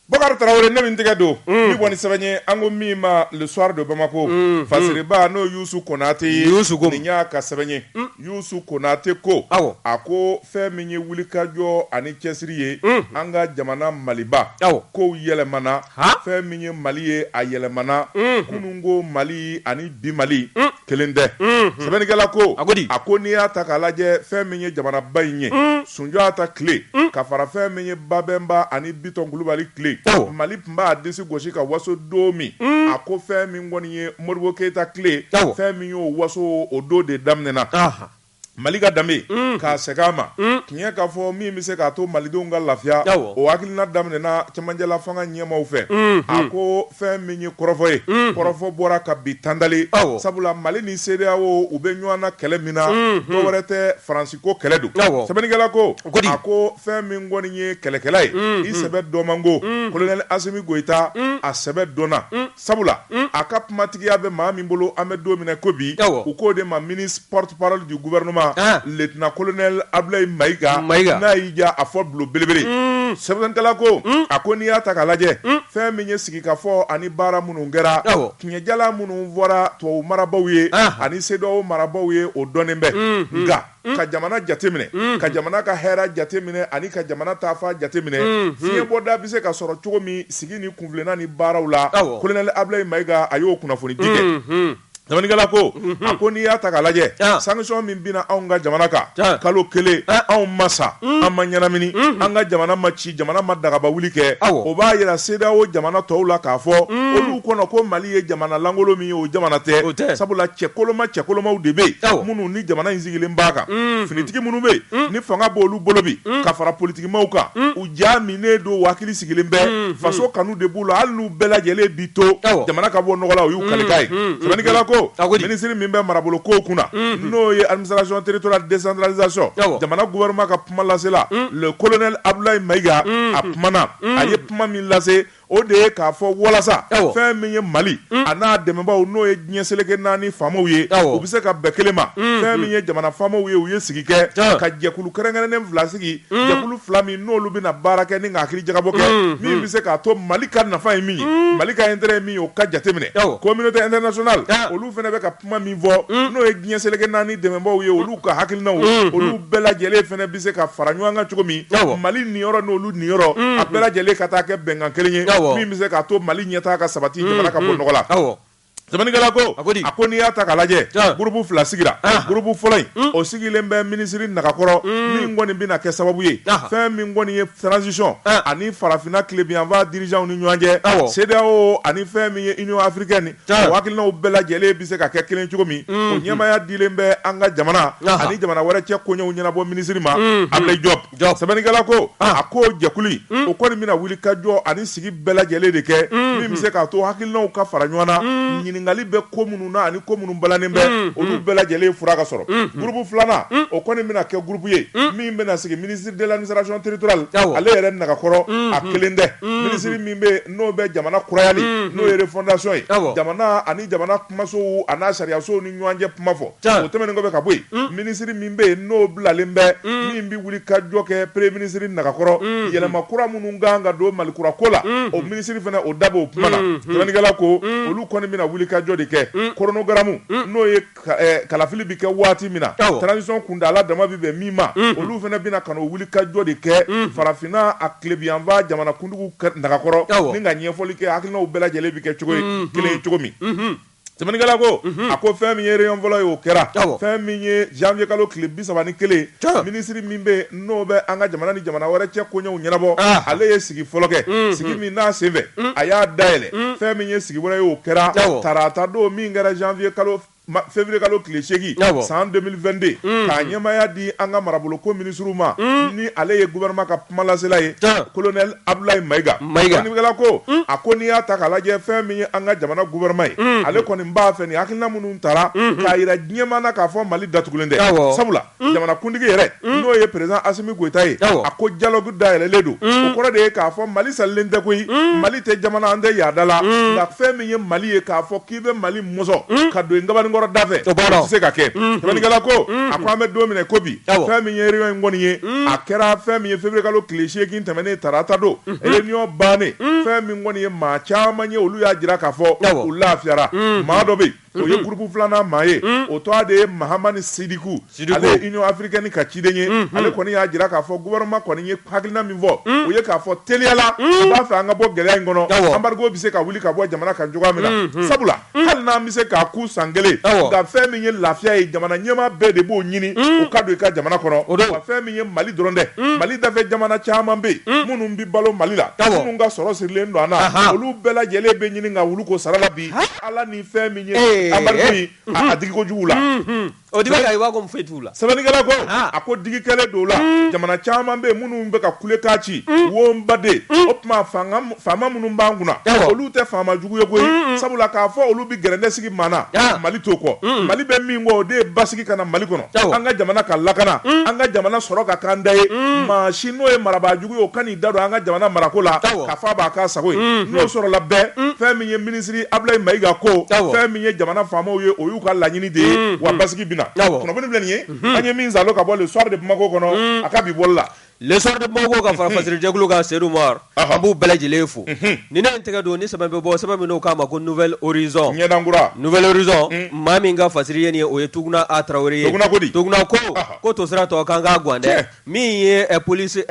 Bakari Tarawele ne min tɛgɛ don ni bɔ ni sɛbɛn ye an ko min ma le soir de Bamako fasiriba n'o Youssou Konate ye Youssou ko nin y'a ka sɛbɛn ye Youssou Konate ko awɔ a ko fɛn min ye wulikajɔ ani cɛsiri ye an ka jamana Maliba awɔ kow yɛlɛmana fɛn min ye Mali ye a yɛlɛmana kununko Mali ani bi Mali kelen tɛ sɛbɛnnikɛla ko a a ko n'i y'a ta k'a lajɛ fɛn min ye jamanaba in ye sunjata tile ka fara fɛn min ye babɛnba ani bitɔn kulubali tile mali tun b'a disi gosi ka waso don min a ko fɛn min kɔni ye modibo keyita tile fɛn min y'o waso o don de daminɛna Mali ka danbe k'a segin a ma tiɲɛ k'a fɔ min bɛ se k'a to malidenw ka lafiya o hakilina daminɛna cɛmancɛla fanga ɲɛmaaw fɛ a ko fɛn min ye kɔrɔfɔ ye kɔrɔfɔ bɔra ka bi tanda aw sabula mali ni CEDEAO u bɛ ɲɔgɔn na kɛlɛ min na dɔ wɛrɛ tɛ faransi ko kɛlɛ don sɛbɛnnikɛla ko a ko fɛn min kɔni ye kɛlɛkɛla ye i sɛbɛ dɔn man go colonel Assimi Goïta a sɛbɛ dɔnna sabula a ka kumatigiya bɛ maa min bolo an bɛ don min na ko bi u k'o de ma ministre porte-parole du gouvernement lieutenant colonel Ablaye Maïga n'a y'i jɔ a fɔ bulon belebele sɛbɛnnikɛla ko a ko n'i y'a ta k'a lajɛ fɛn min ye sigikafɔ ani baara minnu kɛra tiɲɛjala minnu fɔra tubabu marabaw ye ani CEDEAO marabaw ye o dɔnnen bɛ nka ka jamana jateminɛ ka jamana ka hɛrɛ jateminɛ ani ka jamana taafa jateminɛ fiɲɛbɔda bɛ se ka sɔrɔ cogo min sigi ni kunfilenna ni baaraw la kolonɛli Ablaye Maïga a y'o kunnafoni di sɛbɛnnikɛla ko a ko n'i y'a ta k'a lajɛ sanction min binna anw ka jamana kan kalo kelen anw ma sa an ma ɲɛnamini an ka jamana ma ci jamana ma dagaba wuli kɛ o b'a yira CEDEAO jamana tɔw la k'a fɔ olu kɔnɔ ko mali ye jamana lankolon min ye o jamana tɛ sabula cɛ koloma cɛ kolomaw de bɛ yen minnu ni jamana in sigilen b'a kan finitigi minnu bɛ yen ni fanga b'olu bolo bi ka fara politikimaaw kan u ja minɛnen don hakili sigilen bɛ faso kanu de b'u la hali n'u bɛɛ lajɛlen bi to jamana ka bɔ nɔgɔ la o y'u kalikan ye sɛbɛnnikɛla ko a minisiri min bɛ marabolo ko kunna n'o ye administration territoriale décentralisation jamana gouvernement ka kuma lasela le colonel Abdoulaye Maïga a kumana a ye kuma min lase o de ye k'a fɔ walasa fɛn min ye mali a n'a dɛmɛbaaw n'o ye diɲɛ seleke naani faamaw ye u bɛ se ka bɛn kelen ma fɛn min ye jamana faamaw ye u ye sigi kɛ ka jɛkulu kɛrɛnkɛrɛnnen fila sigi jɛkulu fila min n'olu bɛna baara kɛ ni ka hakili jagabɔ kɛ min bɛ se k'a to mali ka nafa ye min ye mali ka intérêt ye min ye o ka jateminɛ communauté internationale fɛ kuma min fɔ mm. n'o ye diɲɛ seleke naani dɛmɛbaaw ye olu ka hakilinaw mm. olu mm. bɛɛ lajɛlen fana bɛ se ka fara ɲɔgɔn kan cogo min mali niyɔrɔ n'olu niyɔrɔ a bɛɛ lajɛlen ka taa kɛ bɛnkan kelen ye min bɛ se k'a to mali ɲɛtaa ka sabati jamana ka bɔ nɔgɔ la sɛbɛnnikɛla ko a ko n'i y'a ta k'a lajɛ gurupu fila sigira gurupu fɔlɔ in hmm. o sigilen bɛ minisiri nagakɔrɔ hmm. min kɔni bɛna kɛ sababu ye fɛn min kɔni ye transition ani farafinna tilebiyanfan dirijanw ni ɲɔgɔn cɛ CEDEAO ani fɛn min ye union africaine O hakilinaw bɛɛ lajɛlen bɛ se ka kɛ kelen cogo min o ɲɛmaya dilen bɛ an ka jamana ani jamana wɛrɛ cɛ koɲɛw ɲɛnabɔ minisiri ma abulayi jɔpu sɛbɛnnikɛla ko a ko jɛkulu o kɔni bɛna wuli ka jɔ ani sigi bɛɛ lajɛlen de kɛ min bɛ se k'a to hakilinaw ka fara ɲɔgɔn na ɲininkali bɛ ko minnu na ani ko minnu balannen bɛ olu bɛɛ lajɛlen fura ka sɔrɔ gurupu filanan o kɔni bɛna kɛ gurupu ye min bɛna sigi ministre de l'administration territoriale ale yɛrɛ nagakɔrɔ a kelen tɛ minisiri min bɛ n'o bɛ jamana kurayali n'o ye refondation ye jamana ani jamana kumasow an'a sariyasow ni ɲɔgɔn cɛ kuma fɔ o tɛmɛnen kɔfɛ ka bɔ yen minisiri min bɛ yen n'o bilalen bɛ min bɛ wuli ka jɔ kɛ premier ministre nagakɔrɔ yɛlɛma kura minnu kan ka don mali kura ko la o minisiri fana o da b'o kuma na sɛbɛnnikɛla ko olu kɔni bɛna wuli ka jɔ de kɛ chronogramme n'o kalafili bɛ kɛ waati min na transition kuntaala dama bɛ bɛn min ma olu fana bɛna ka n'o wuli ka jɔ de kɛ farafinna a tilebinyanfan jamana kuntigiw nagakɔrɔ ni ka ɲɛfɔli kɛ hakilinaw bɛɛ lajɛlen bɛ kɛ cogoya kelen ye cogo min sɛbɛnnikɛla ko a ko fɛn min ye réunion fɔlɔ ye o kɛra fɛn min ye janvier kalo tile bi saba ni kelen minisiri min bɛ n'o bɛ an ka jamana ni jamana wɛrɛ cɛ koɲɛw ɲɛnabɔ ale ye sigi fɔlɔ kɛ sigi min n'a senfɛ a y'a dayɛlɛ fɛn min ye sigi wɛrɛ ye o kɛra tarata don min kɛra janvier kalo février kalo tile segin san 2022 k'a ɲɛmaya di an ka marabolo ko minisiri ma ni ale ye gouvernement ka Kumalasela ye colonel abudulayi mayiga sɛbɛnnikɛla ko a ko n'i y'a ta k'a lajɛ fɛn min ye an ka jamana gouvernement ye ale kɔni n b'a fɛ ni hakilina minnu taara k'a jira diɲɛma na k'a fɔ mali datugulen tɛ sabula jamanakuntigi yɛrɛ n'o ye président asimi goyita ye a ko dialogue da yɛlɛlen don o kɔrɔ de ye k'a fɔ mali salen tɛ koyi mali tɛ jamana an tɛ yaada la nka fɛn min ye mali ye k'a fɔ i bɛ mali mɔsɔn hmm? ka don i kabanin kɔrɔ dafɛ tɛ se ka kɛ hmm. sɛbɛnnikɛla ko hmm. a ko an bɛ don min na i ko bi fɛn min ye réunion in kɔni ye a kɛra fɛn min ye février kalo tile seegin tɛmɛnen tarata don réunion bannen fɛn min kɔni ye maa caman ye olu y'a jira k'a fɔ u lafiyara maa dɔ bɛ o ye gurupu filanan maa ye o tɔgɔ de ye mahamani sidiku africaine ka ciden ye ale kɔni y'a jira k'a fɔ gouvernement kɔni ye hakilina min fɔ o ye k'a fɔ teliya la u b'a fɛ an ka bɔ gɛlɛya in kɔnɔ embargo bɛ se ka wuli ka bɔ jamana kan cogoya min na sabula hali n'an bɛ se k'a kun san kelen nka fɛn min ye lafiya ye jamana ɲɛmaa bɛɛ de b'o ɲini o ka don i ka jamana kɔnɔ o fɛn min ye mali dɔrɔn dɛ mali dafɛ jamana caman bɛ yen minnu bɛ balo mali la minnu ka sɔrɔ sirilen don an na olu bɛɛ lajɛlen bɛ ɲini ka wuli ko sarala bi ala ni fɛn min ye embargo in y'a digi kojugu la O de b'a i b'a ko foyi t'u la sɛbɛnnikɛla ko a ko digi kɛlen don la jamana caman bɛ yen minnu bɛ ka kulekan ci wo n baden o tuma faama minnu b'an kunna olu tɛ faama jugu ye koyi sabula k'a fɔ olu bɛ gɛrɛntɛ sigi maa na mali t'o kɔ mali bɛ min kɔ o de ye basigi ka na mali kɔnɔ an ka jamana ka lakana an ka jamana sɔrɔ ka k'an ta ye maa si n'o ye marabaaju o kan'i da don an ka jamana marako la k'a fɔ a b'a k'a sago ye n'o sɔrɔla fɛn min ye minisiri Ablaye Mayiga ko fɛn min ye jamana faamaw ye o y'u ka laɲini de ye wa basigi bɛna kunnafoni filɛ nin ye an ye min saalo ka bɔ le soir de Bamako kɔnɔ a ka bi bɔli la le soir de Bamako ka fara fasirijɛkulu kan Seydou Umar an b'u bɛɛ lajɛlen fo ni ne tɛgɛ don ni sɛbɛn bɛ bɔ sɛbɛn min n'o k'a ma ko Nouvel Horizon ɲɛdankura Nouvel Horizon maa min ka fasiri ye nin ye o ye Tuguna A Traoré ye Tuguna ko ko to sira tɔ k'an k'a gan dɛ Min ye police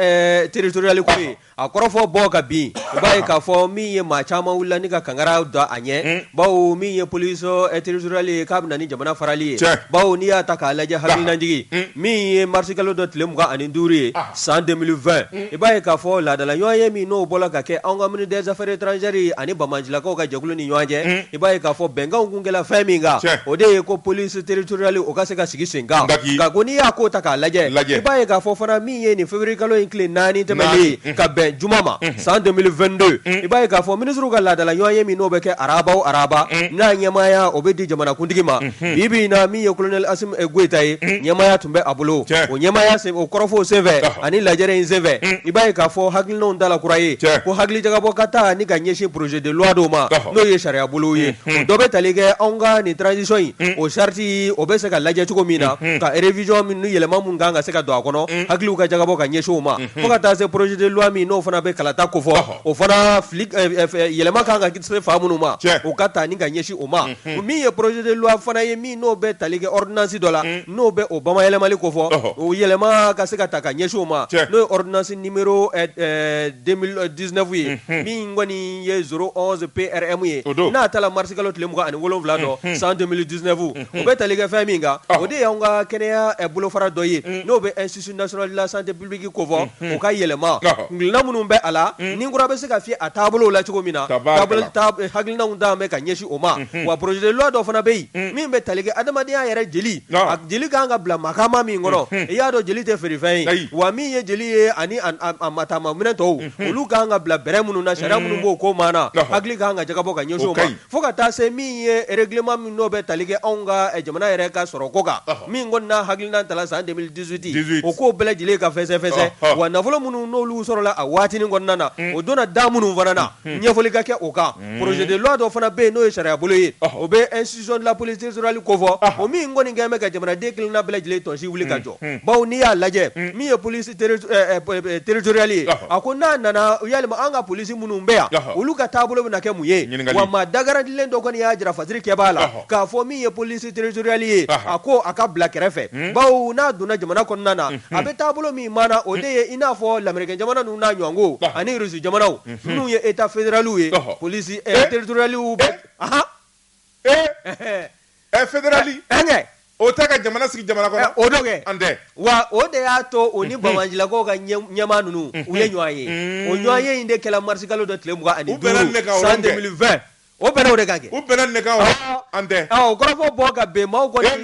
territoriale ko ye a kɔrɔfɔ bɔ ka bin i b'a ye k'a fɔ min ye maa caman wulila ni ka kankara da a ɲɛ bawo min ye police territoriale ye k'a bɛna ni jamana farali ye bawo n'i y'a ta k'a lajɛ hakilinajigi min ye mars kalo dɔ tile mugan ani duuru ye san 2020 i b'a ye k'a fɔ laadala ɲɔgɔnye min n'o bɔra ka kɛ anw ka ministre des affaires étrangères ani banbaancilakaw ka jɛkulu ni ɲɔgɔn cɛ i b'a ye k'a fɔ bɛnkanw kun kɛla fɛn min kan, tiɲɛ, o de ye ko police territoriale o ka se ka sigi sen kan, Daki. nka ko n'i y'a ko ta k'a lajɛ, lajɛ, i b'a ye k'a fɔ fana min ye nin février kalo in tile naani tɛmɛnen ye Naani, ka bɛn juma ma san 2022 i b'a ye k'a fɔ ministres ka laadala ɲɔgɔnye min n'o bɛ kɛ araba o araba n'a ɲɛmaaya o bɛ di jamanakuntigi ma bi bi in na min ye colonel Asim eh, Goyita ye ɲɛmaaya tun bɛ a bolo Tiɲɛ. o ɲɛmaaya sen o kɔrɔfɔw senfɛ Ɔhɔ. ani lajɛrɛ in senfɛ i b'a ye k'a fɔ hakili hakilinaw dala kura ye ko hakili jagabɔ ka taa ni ka ɲɛsin projet de loi dɔw ma n'o ye sariya bolo ye dɔ bɛ tali kɛ anw ka nin transition in o charte o bɛ se ka lajɛ cogo min na ka révision min ni yɛlɛma min kan ka se ka don a kɔnɔ hakiliw ka jagabɔ ka ɲɛsin o ma fo ka taa se projet de loi min n'o fana bɛ kalata ko fɔ o fana yɛlɛma kan ka kɛ fan minnu ma o ka taa ni ka ɲɛsin o ma min ye projet de loi fana ye n'o bɛ tali kɛ ordonnance dɔ la n'o bɛ o bamayɛlɛmali ko fɔ o yɛlɛma ka se ka ta ka ɲɛsin o ma n'o ye ordonnance numéro 2019 ye min kɔni ye 011 PRM ye n'a tara marisikalo tile mugan ani wolowula don san 2019 o bɛ tali kɛ fɛn min kan o de y'an ka kɛnɛya bolofara dɔ ye n'o bɛ Institut national de la santé publique ko fɔ, unhun, o ka yɛlɛma, ɔhɔ, hakilina minnu bɛ a la, un, ni kura bɛ se ka fiyɛ a taabolo la cogo min na, tabarikala, taabolo hakilinaw ta bɛ ka ɲɛsin o ma, unhun, wa projet de loi dɔ fana bɛ yen, un, min bɛ tali kɛ adamadenya yɛrɛ jeli, ɔɔ, a jeli ka kan ka bila makaama min kɔnɔ, unhun, i y'a dɔn jeli tɛ feere fɛn ye, ayi, wa min ye jeli ye ani a a a mataama minɛn tɔw, unhun, olu ka kan ka bila bɛrɛ minnu na, sariya minnu b'o ko maana, ɔhɔ, hakili ka kan ka jagabɔ ka ɲɛsin o ma, o ka ɲi. Fo ka taa se min ye règlement min n'o bɛ tali kɛ anw ka jamana yɛrɛ ka sɔrɔ ko kan min kɔni n'a hakilina tala san deux mille dix-huit o ko bɛɛ lajɛlen ka fɛsɛfɛsɛ wa nafolo minnu n'olu sɔrɔla a waatinin kɔnɔna na o donna da minnu fana na ɲɛfɔli ka kɛ o kan projet de loi dɔ fana bɛ yen n'o ye sariya bolo ye o bɛ institution de la police territoriale ko fɔ o min kɔni kɛlen bɛ ka jamanaden kelenna bɛɛ lajɛlen tɔnsi wuli ka jɔ bawo n'i y'a lajɛ min ye police territoriale ye a ko n'a nana yalima an ka police minnu bɛ yan olu ka taabolo bɛna kɛ mun ye wa maa dagarandilen dɔ kɔni y'a jira fasiri kɛ b'a la k'a fɔ min ye police territoriale ye a ko a ka bila kɛrɛfɛ bawo n'a donna jamana kɔnɔna na a bɛ taabolo min maana o de ye i n'a fɔ lamɛrikɛn jamana ninnu n'a ɲɔgɔnko ani Russie jamanaw minnu ye état fédéraliw ye police territoriale bɛ Fédérali o tɛ ka jamana sigi jamana kɔnɔ o an tɛ wa o de y'a to o ni bamanjilakaw ka ɲɛmaa ninnu u ye ɲɔgɔn ye o ɲɔgɔn ye in de kɛla marisikalo dɔ tile mugan ani duuru san deux mille vingt o bɛnna o de kan kɛ u bɛnna nin de kan an tɛ o kɔrɔfɔ bɔ ka bɛn maaw kɔni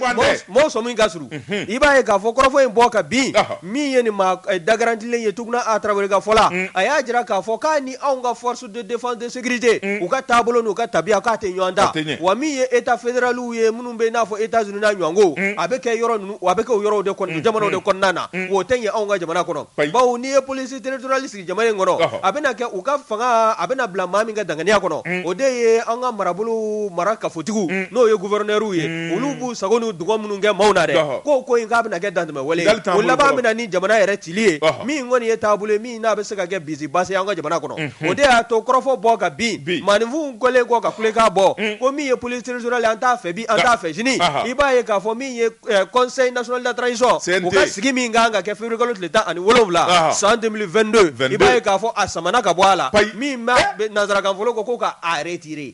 maaw sɔmi ka surun i b'a ye k'a fɔ kɔrɔfɔ in bɔ ka bin min ye nin maa dagarandilen ye Tuguna A Tarawele ka fɔ la a y'a jira k'a fɔ k'a ni anw ka force de défense de sécurité u ka taabolo n'u ka tabiya k'a tɛ ɲɔgɔn ta wa min ye état fédéraliw ye minnu bɛ i n'a fɔ États-Unis n'a ɲɔgɔnko a bɛ kɛ yɔrɔ ninnu a bɛ kɛ o yɔrɔw de kɔnɔ jamanaw de kɔnɔna na o tɛ ɲɛ anw ka jamana kɔnɔ bawo n'i ye police territoriale sigi jamana in kɔnɔ a bɛna kɛ u ka fanga a bɛna bila maa min ka danganiya kɔnɔ o de ye an ka marabolo mara kafotigi n'o ye gouverneurw ye olu b'u sago n'u dungɔ minnu kɛ maaw na dɛ ko ko in k'a bɛna kɛ dantɛmɛ wale o laban bɛna ni jamana yɛrɛ cili ye min kɔni ye taabolo n'a bɛ se ka kɛ bin basi ye an ka jamana kɔnɔ o de y'a to kɔrɔfɔ bɔ ka bin maaninfinw kɔlen kɔ ka kulekan bɔ ko min ye police territoriale an t'a fɛ bi an t'a fɛ sini i b'a ye k'a fɔ min ye conseil national de la transition u ka sigi min kan ka kɛ février kalo tile tan ani wolowula san deux mille vingt-deux i b'a ye k'a fɔ a samana ka bɔ a la min bɛ nanzarakan fɔlɔ ko ko k'a retiré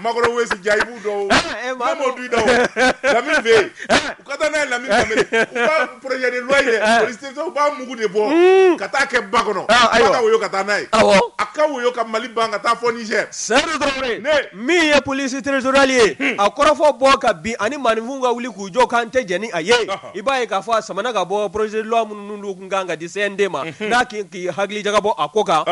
Makɔrɔ Wesi jaayibu dɔw eh, eh, ne m'o dun i da o Lamini fɛ yen eh. u ka taa n'a ye Lamini Danbele u ka projet de loi in dɛ police u b'a mugu de bɔ hmm. ka taa kɛ ba kɔnɔ ah, f'a ka woyo ka taa n'a ye a ka woyo ka Mali ban ka taa fɔ Niger Seydou Traoré min ye police territorial ye hmm. a kɔrɔfɔ bɔ ka bin ani maaninfinw ka wuli k'u jɔ k'an tɛ jɛn ni a ye. i b'a ye k'a fɔ a samana ka bɔ projet de loi minnu kun kan ka di CNT ma n'a k'i hakili jagabɔ a ko kan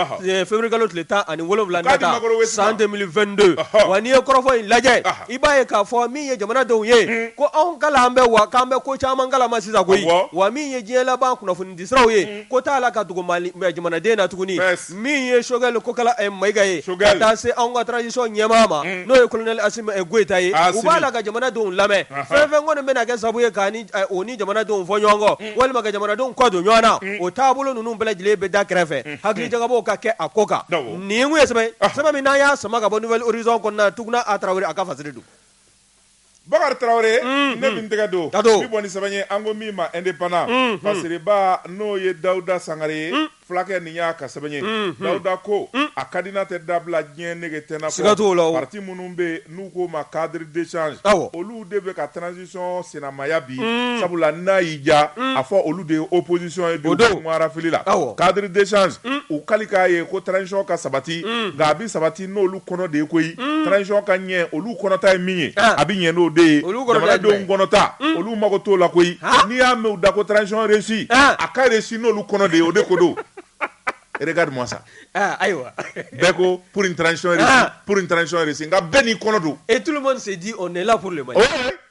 février kalo tile tan ani wolonwula nata san 2022 wa n'i ye kɔrɔfɔ in lajɛ i b'a ye k'a fɔ min ye jamanadenw ye ko anw kala an bɛ wa k'an bɛ ko caman kalama sisan koyi wa min ye diɲɛ laban kunnafonidi siraw ye ko t'a la ka dogo jamanaden na tuguni min ye Sokɛli Kokala Mayiga ye ka taa se anw ka transition ɲɛmaa ma n'o ye colonel Asimi Goyita ye u b'a la ka jamanadenw lamɛn fɛn fɛn kɔni bɛna kɛ sababu ye k'u ni jamanadenw fɔ ɲɔgɔn kɔ walima ka jamanadenw kɔ don ɲɔgɔn na o taabolo ninnu bɛɛ lajɛlen bɛ da kɛrɛfɛ hakili jagabɔ ka kɛ a ko kan nin ye sɛbɛn min n'an y'a sama ka bɔ Nouvel Horizon kɔnɔna Tuguna A Tarawele a ka fasiri don Bakari Tarawele ne bɛ n tɛgɛ don n bɛ bɔ ni sɛbɛn ye an ko min ma indépendant fasiriba n'o ye Dawuda Sangare ye fulakɛ nin y'a ka sɛbɛn ye Dawuda ko a ka di n'a tɛ dabila diɲɛ nege tɛna bɔ siga t'o la o parti minnu bɛ yen n'u k'o ma cadre d'échange awɔ olu de bɛ ka transition sinamaya bi sabula n'a y'i diya a fɔ olu de ye opposition ye bi o don u kumara fili la awɔ cadre d'échange u kali k'a ye ko transition ka sabati nka a bɛ sabati n'olu kɔnɔ de ye koyi transition ka ɲɛ olu kɔnɔta ye min ye a bɛ ɲɛ n'o de ye jamanadenw kɔnɔta olu mago t'o la koyi n'i y'a mɛn u da ko transition réussie a ka réussie n'olu kɔnɔ de ye o de ko don regarde moi ça ayiwa bɛɛ ko pour une transition réussie pour une transition réussie nka bɛɛ n'i kɔnɔ don et tout le monde se dit on est là pour le Mali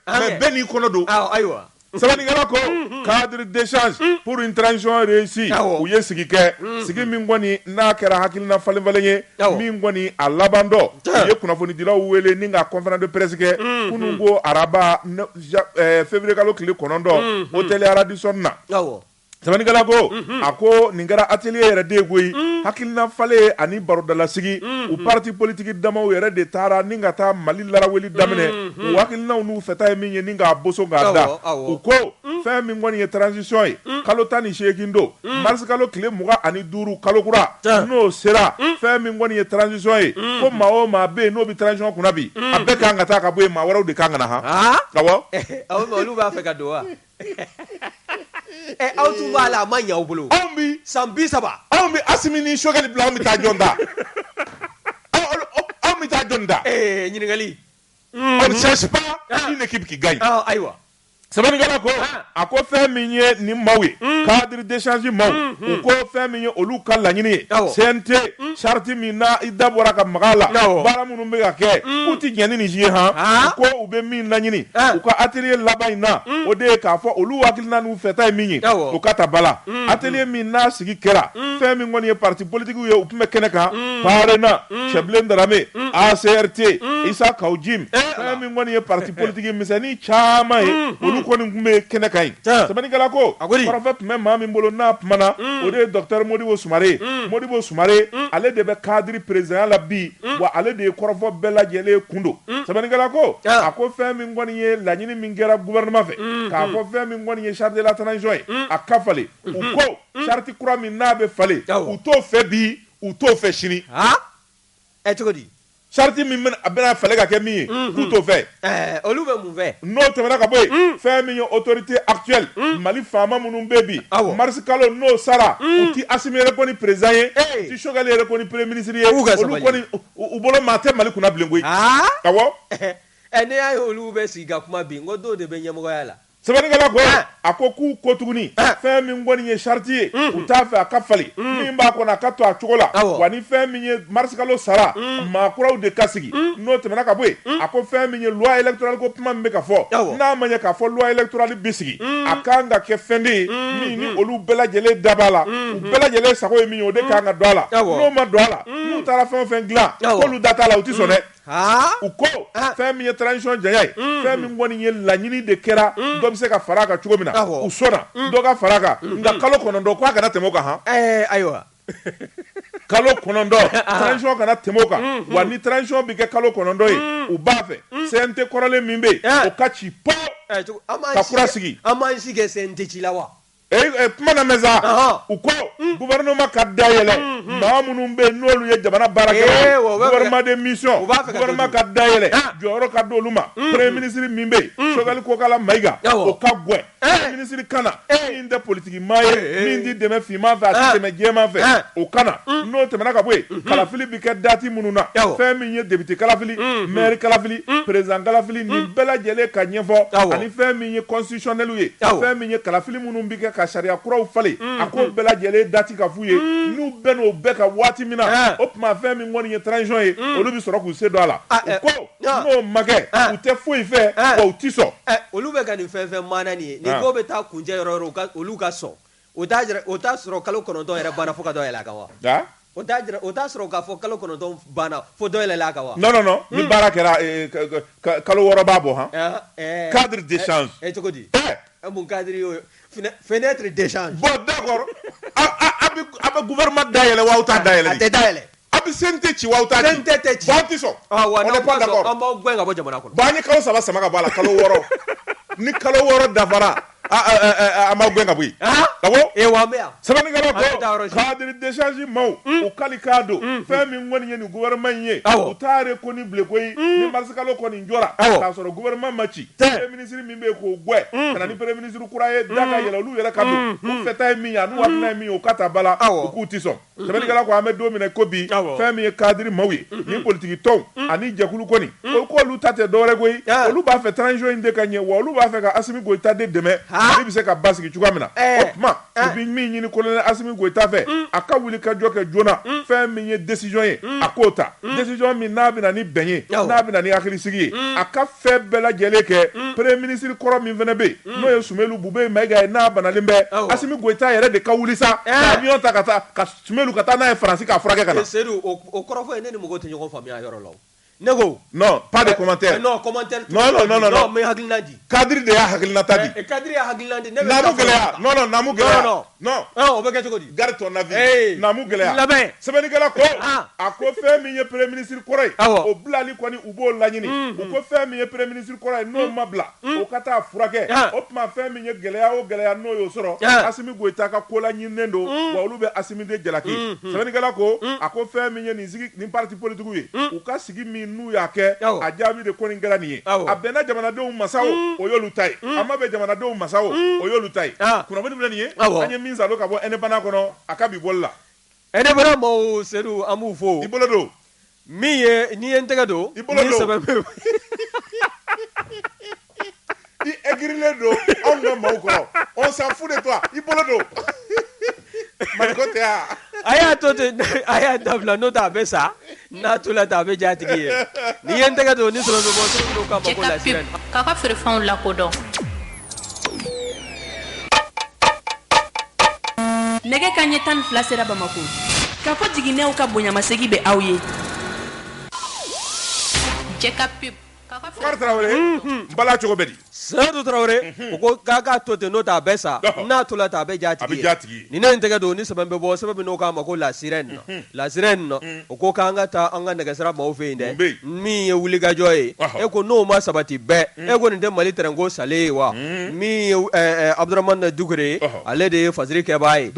mais bɛɛ n'i kɔnɔ don ayiwa. sɛbɛnnikɛla ko cadre d'échange pour une transition réussie Awɔ. u ye sigi kɛ sigi min kɔni n'a kɛra hakilina falen falen ye Awɔ. min kɔni a laban don Tiɲɛ. u ye kunnafonidilaw wele ni ka conférence de presse kɛ kunun ko araba ne- ja- eh, février kalo tile kɔnɔntɔn hôtel Radisson na Awɔ. Sɛbɛnnikɛla ko, unhun, a ko nin kɛra atelier yɛrɛ de ye koyi, un, hakilina falen ani barodalasigi, unhun, u partis politiques damaw yɛrɛ de taara ni ka taa Mali laraweli daminɛ, unhun, u hakilinaw n'u fɛta ye min ye ni k'a boso k'a da, awɔ, awɔ, u ko, un, fɛn min kɔni ye transition ye, un, kalo tan ni seegin don, un, mars kalo tile mugan ani duuru kalo kura, tiɲɛ, n'o sera, un, fɛn min kɔni ye transition ye, un, ko maa o maa bɛ yen n'o bɛ transition kunna bi, un, a bɛɛ ka kan ka taa ka bɔ yen, maa wɛrɛw de ka kan ka na han, han, awɔ, olu b'a fɛ ka don wa? Eh, aw tun b'a la a ma ɲɛ aw bolo anw bi san bi saba anw bɛ Asimi ni Sokɛli bila anw bɛ taa jɔn da Anw- anw- anw bɛ taa jɔn da Eh, ɲininkali on ne change pas une équipe qui gagne Ah, ayiwa sɛbɛnnikɛla ko Ah. a ko fɛn min ye nin maaw ye cadre d'échange maaw u ko fɛn min ye olu ka laɲini ye CNT charte min na i da bɔra ka maga la baara minnu bɛ ka kɛ u tɛ jɛn ni nin ye han ko u bɛ min laɲini u ka atelier laban in na o de ye k'a fɔ olu hakilina n'u fɛta ye min ye o ka ta ba la atelier min n'a sigi kɛra fɛn min kɔni ye parti politique ye u tun bɛ kɛnɛ kan PARENA Cɛbilen Darame ACRT Isa Kawu Jim fɛn min kɔni ye parti politique misɛnnin caman ye olu kɔni tun bɛ kɛnɛ kan yen sɛbɛnnikɛla ko kɔrɔfɔ tun bɛ maa min bolo n'a kumana o de ye docteur modibo sumare modibo sumare ale de bɛ cadre président la bi wa ale de ye kɔrɔfɔ bɛɛ lajɛlen kun don sɛbɛnnikɛla ko a ko fɛn min kɔni ye laɲini min kɛra gouvernement fɛ k'a fɔ fɛn min kɔni ye charte de la transition ye a ka falen u ko charte kura min n'a bɛ falen u t'o fɛ bi u t'o fɛ sini ɛ cogo di Charte min a bɛna falen ka kɛ min ye mm-hmm. k'u t'o fɛ eh, olu bɛ mun fɛ n'o tɛmɛna ka bɔ yen mm. fɛn min ye autorité actuelle mm. mali faama minnu bɛ bi mars kalo n'o sara mm. u ti Assimi reconnu président ye u ti Choguel reconnu premier ministre ye olu kɔni u bolo maa tɛ mali kunna bilen koyi ah? awɔ eh, eh, ne y'a ye olu bɛ sigi ka kuma bi n ko dɔw de bɛ ɲɛmɔgɔya la sɛbɛnnikɛla ko ah. a ko k'u ko tuguni ah. fɛn min kɔni ye charte ye mm. u t'a fɛ a ka falen mm. min b'a kɔnɔ a ka to a cogo la wa ni fɛn min ye mars kalo sara mm. maa kuraw de ka sigi n'o tɛmɛna ka bɔ yen a ko fɛn min ye loi électorale ko kuma min bɛ ka fɔ n'a ma ɲɛ k'a fɔ loi électorale bɛ sigi a kan ka kɛ fɛn de ye min ni olu bɛɛ lajɛlen da b'a la u bɛɛ lajɛlen sago ye min ye o de kan ka don a la n'o ma don a la n'u taara fɛn o fɛn dilan k'olu da t'a la u tɛ sɔn dɛ u ko fɛn min ye transition janya ye fɛn min kɔni ye laɲini de kɛra dɔ bɛ se ka fara a kan cogo min na u sɔnna dɔ ka fara a kan nka kalo kɔnɔntɔn k'a kana tɛmɛ o kan han ayiwa kalo kɔnɔntɔn kana tɛmɛ o kan wa ni transition bɛ kɛ kalo kɔnɔntɔn ye u b'a fɛ CNT kɔrɔlen min bɛ yen o ka ci po ka kura sigi an' CNT ci la wa Eh, eh, kuma lamɛn sa u ko mm. gouvernement ka dayɛlɛ mm, mm. maa minnu bɛ yen n'olu ye jamana baara kɛ eh, gouvernement de mission gouvernement ka dayɛlɛ ah. jɔyɔrɔ ka d'olu ma premier ministre min bɛ yen Choguel Kokala Mayiga o ka gɛn eh. premier ministre ka na min tɛ politiki maa ye min tɛ dɛmɛ finman fɛ a tɛ ah. dɛmɛ jɛman fɛ ah. o ka na n'o tɛmɛna ka bɔ yen mm-hmm. kalafili bɛ kɛ dati minnu na fɛn min ye député kalafili mm-hmm. maire kalafili mm-hmm. président kalafili nin bɛɛ lajɛlen ka ɲɛfɔ ani fɛn min ye constitutionnel ye, awɔ, fɛn min ye kalafili minnu bɛ kɛ ka sariya kuraw falen, unhun, a k'o bɛɛ lajɛlen dati ka f'u ye, un, n'u bɛn'o bɛɛ kan waati min na, ɛɛ, o tuma fɛn min kɔni ye transition ye, un, olu bɛ sɔrɔ k'u sen don a la, a, ɛ, u ko ɔ, n'o ma kɛ, ɛ, u tɛ foyi fɛ, ɛ, wa u tɛ sɔn. Ɛ, olu bɛ ka nin fɛn fɛn maana nin ye, nin ko bɛ taa kuncɛ yɔrɔ o yɔrɔ, u ka olu ka sɔn. O t'a jira o t'a sɔrɔ kalo kɔnɔntɔn yɛrɛ banna fo ka dɔ yɛlɛ a kan wa? Nka? O t'a jira o t'a sɔrɔ k'a fɔ kalo kɔnɔntɔn banna fo dɔ yɛlɛla a kan wa? Non non non ni baara kɛra ee ka ka ka kalo wɔɔrɔ b'a bɔ han. Ɔnhɔn ɛɛ. Cadre d'échange ɛ ɛ cogo di? Ɛ! Ɛ mun cadre y'o ye? Fenɛ fenêtre d'échange . Bon d'accord aw a a bɛ a bɛ gouvernement dayɛlɛ wa aw t'a dayɛlɛ de? A tɛ dayɛlɛ. A bɛ sen tɛ ci aw ta sen tɛ tɛ ci ba tɛ sɔn wa ne pan kɔrɔ an b'aw gɛn ka bɔ jamana kɔnɔ ba ni kalo saba sama ka bɔ la kalo wɔɔrɔ ni kalo wɔɔrɔ dafara an b'aw gɛn ka bɔ ka bɔ e wa bɛ yan sɛbɛn desi maaw u ka k'a don fɛn min kɔni ye nin wɛrɛma in ye u taari ko ni bilen ko ni mari kalo kɔni jɔra y'a sɔrɔ wɛrɛma ma ci minisiriri min bɛ k'o gɛn ka ni bere minisiririkura ye yɛlɛ olu yɛrɛ ka fɛta ye min ye n' ye min ye u ka taa bala aw k'u tɛ sɔn Sɛbɛnnikɛla ko an bɛ don min na ko bi fɛn min ye kadiri maaw ye ni politigi tɔnw ani jɛkulu kɔni o ko olu ta tɛ dɔwɛrɛ koyi olu b'a fɛ transition in de ka ɲɛ wa olu b'a fɛ ka Asimi Goyita de dɛmɛ Mali bɛ se ka basigi cogoya min na o tuma u bɛ min ɲini colonel Asimi Goyita fɛ a ka wulikajɔ kɛ joona fɛn min ye décision ye a k'o ta décision min n'a bɛ na ni bɛn ye n'a bɛ na ni hakilisigi ye a ka fɛn bɛɛ lajɛlen kɛ premier ministre kɔrɔ min fana bɛ yen Mm. n'o ye Sumelu Bube Mayiga ye n'a banalen bɛ Asimi Goyita yɛrɛ de ka wuli sa eh. ka avion ta ka taa ka Sumelu ka taa n'a ye Faransi k'a furakɛ ka na. Eh, Sedu o kɔrɔ fɔ ye ne ni mɔgɔw tɛ ɲɔgɔn faamuya yɔrɔ la o. Ne ko. Non pas de eh, commentaire. Non commentaire. Non non non non. N bɛ hakilina di. Kadiri de y'a hakilinata di. Kadiri y'a hakilina di. Naamu gɛlɛya. Non non naamu gɛlɛya. Non non. non ɔ o bɛ kɛ cogo di garde ton avis ee naamu gɛlɛya laban sɛbɛnnikɛla ko eh, ah. a ko fɛn min ye premier ministre kɔrɔ ye awɔ o bilali kɔni u b'o laɲini mm, u ko fɛn min ye premier ministre kɔrɔ ye n'o mm, ma bila mm. o ka taa furakɛ ah. o tuma fɛn min ye gɛlɛya o gɛlɛya n'o y'o sɔrɔ ah. asimi goyita ka ko laɲininen don mm. wa olu bɛ asimi de jalaki mm, mm. sɛbɛnnikɛla ko mm. a ko fɛn min ye nin sigi nin parti politigiw ye mm. u ka sigi min n'u y'a kɛ a jaabi de kɔni kɛra nin ye a bɛnna jamanadenw ma sa mm. o y'olu ta ye mm. a ma bɛn jamanadenw ma sa o mm. o y'olu ta ye ah. kunnafoni filɛ nin ye an ye min salo ka bɔ Indépendant kɔnɔ a ka bi bɔli la Indépendant maaw sedu an b'u fo i bolo don min ye n'i ye n tɛgɛ don i bolo don I aigrilen don anw ka maaw kɔrɔ on s'en fout de toi i bolo don a y'a to ten a y'a dabila n'o tɛ a bɛ sa n'a tola ten a bɛ jatigi ye n'i ye n tɛgɛ don ni feerew lakodɔn nɛgɛ kanɲɛ tan ni fila sera bamakɔ k'a fɔ jiginɛw ka bonyamasegin bɛ aw ye bala cogo bɛ di sedu tarawele u ko k'an k'a to ten n'o tɛ a bɛ sa n'a tola ten a bɛ jatigi ye ni ne n tɛgɛ don ni sɛbɛn bɛ bɔ sɛbɛn min n'u k'a ma ko La Sirène na La Sirène na u ko k'an ka taa an ka nɛgɛsira maaw fɛ yen dɛ min ye wulikajɔ ye u ko n'o ma sabati bɛɛ u ko nin tɛ mali tɛrɛnko salen ye wa min ye abuduramani dukure ye ale de ye fasari kɛbaa ye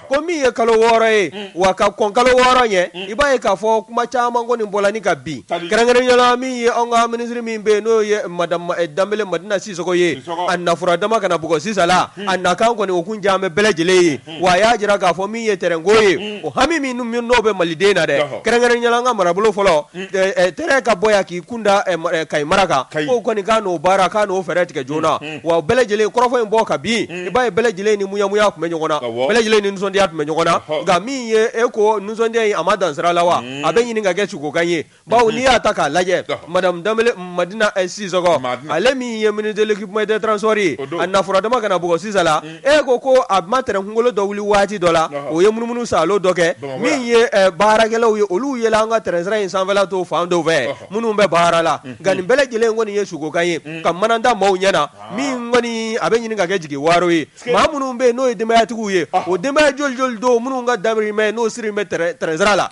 ko min ye kalo wɔɔrɔ ye mm. wa ka kɔn kalo wɔɔrɔ ɲɛ mm. i b'a ye k'a fɔ kuma caman kɔni bɔla ni ka bin kɛrɛnkɛrɛnyala min ye an ka minisiri min bɛ yen n'o ye madame eh, danbele madina sisoko ye a nafura dama kana bugɔ sisala mm. a nakan kɔni o kun jan bɛ bɛɛ lajɛlen ye wa a y'a jira k'a fɔ min ye tɛrɛnko ye o hami min n'o bɛ maliden na dɛ kɛrɛnkɛrɛnyala an ka marabolo fɔlɔ eh, eh, tɛrɛn ka bɔ yan k'i kun da kayi mara kan k'o kɔni k'a n'o baara k'a n'o fɛɛrɛ tigɛ joona wa bɛɛ lajɛlen kɔrɔfɔ in bɔ ka bin i b'a ye bɛɛ lajɛlen ni muyamuya tun bɛ ɲɔgɔn na bɛɛ lajɛlen ni nisɔndiya tun bɛ ɲɔgɔn na nka min ye e ko nisɔndiya in a ma dan sira la wa a bɛ ɲini ka kɛ sugokan ye bawo n'i y'a ta k'a lajɛ madame Danbele Madina Sisɔkɔ ale min ye ministre de l'equipement et des transports ye a nafura dama ka na bugɔ sisala e ko ko a ma train kungolo dɔ wuli waati dɔ la o ye munumunu saalo dɔ kɛ min ye baarakɛlaw ye olu yela an ka train sira in sanfɛla to fan dɔw fɛ. minnu bɛ baara la nka nin bɛɛ lajɛlen kɔni ye sugokan ye ka mana da maaw ɲɛ na min kɔni a bɛ ɲini ka kɛ jigiwaro ye maa minnu bɛ yen n'o ye denbayatigiw ye o denbaya joli don minnu ka dahirimɛ n'o siri bɛ tɛrɛnsira la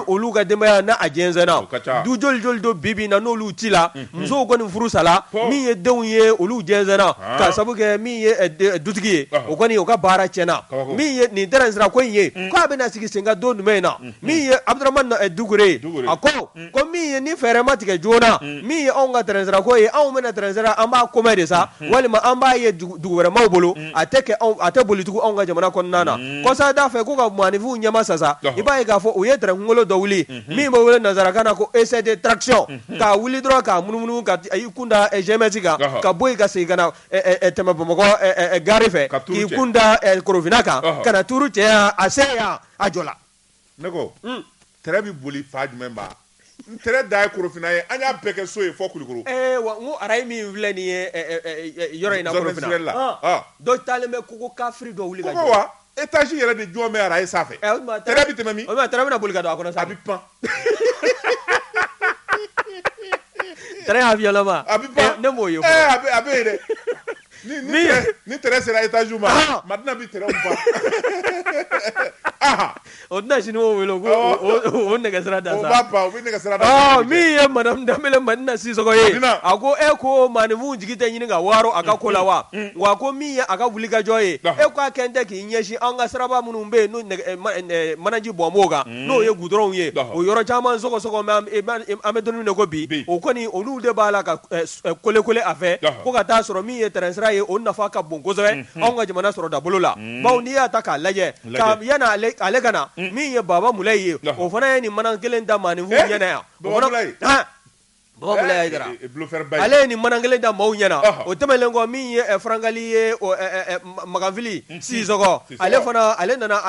olu ka denbaya n' a jɛsɛnna du joli don bibi na n'olu cila musow kɔni furu sala min ye denw ye olu jɛsɛnna ka sabu kɛ dutigi ye o kɔni u ka baara tiɲɛna nin tɛrɛnsira ko in ye k'a bɛna sigi sen kan don jumɛn in na min ye abuduramani dukure ye a ko ko min ye ni fɛɛrɛ ma tigɛ joona min ye anw ka tɛrɛnsira ko ye anw bɛna tɛrɛnsira an b'a ko mɛn de sa walima an b'a ye dugu wɛrɛ maaw bolo a tɛ kɛ a tɛ boli tugun anw ka jamana kɔnɔna na kɔsa d'a fɛ k'u ka maaninfinw ɲɛma sa sa i b'a ye k'a fɔ u ye tɛrɛn kungolo dɔ wuli min bɛ wele nansarakan na ko essai de traction k'a wuli dɔrɔn k'a munumunu ka y'i kunda GMS kan ka bɔ yen ka segin ka tɛmɛ bamakɔ gari fɛ k'i kunda korofinna kan ka tuuru cɛ a se yan a jɔla ne ko tɛrɛ bɛ boli fan jumɛn ba n tɛrɛ dan ye korofinna ye an y'a bɛɛ kɛ so ye fo kulikoro ee wa n ko arayi min filɛ nin ye yɔrɔ in na korofinna la dɔ taalen bɛ kogo kafiri dɔ wuli ka jɔ wa étage yɛrɛ de jɔn bɛ arayi sanfɛ o tuma tɛrɛ bɛ tɛmɛ min o tuma tɛrɛ bɛna boli ka don a kɔnɔ sa a bɛ pan tɛrɛ avion lama a bɛ pan ne m'o ye fɔlɔ a bɛ yen dɛ Ni tɛrɛ sera étage ma madina bɛ tɛrɛ pan o tɛna sini wele o nɛgɛsira da min ye madame danbele madina sisoko ye a ko e ko maaninfinw jigi tɛ ɲini ka waro a ka ko la wa wa ko min ye a ka wulikajɔ ye e k'a kɛ tɛ k'i ɲɛsin an ka siraba minnu bɛ yen manaji bɔn b'o kan n'o ye gudɔrɔnw ye o yɔrɔ caman sɔgɔsɔgɔ an bɛ don min na ko bi o kɔni olu de b'a la ka kolekole a fɛ ko ka taa sɔrɔ min ye tɛrɛn sira ye o nafa ka bon kosɛbɛ anw ka jamana sɔrɔ dabolo la bawo n'i y'a ta k'a lajɛ yan ale ka na min ye Baba Mulayi ye o fana ye nin mana kelen da maaninfinw ɲɛna yan ale ye nin mana kelen da maaw ɲɛna o tɛmɛnlen kɔ min ye farankali ye Makanfili Sisɔkɔ ale fana ale nana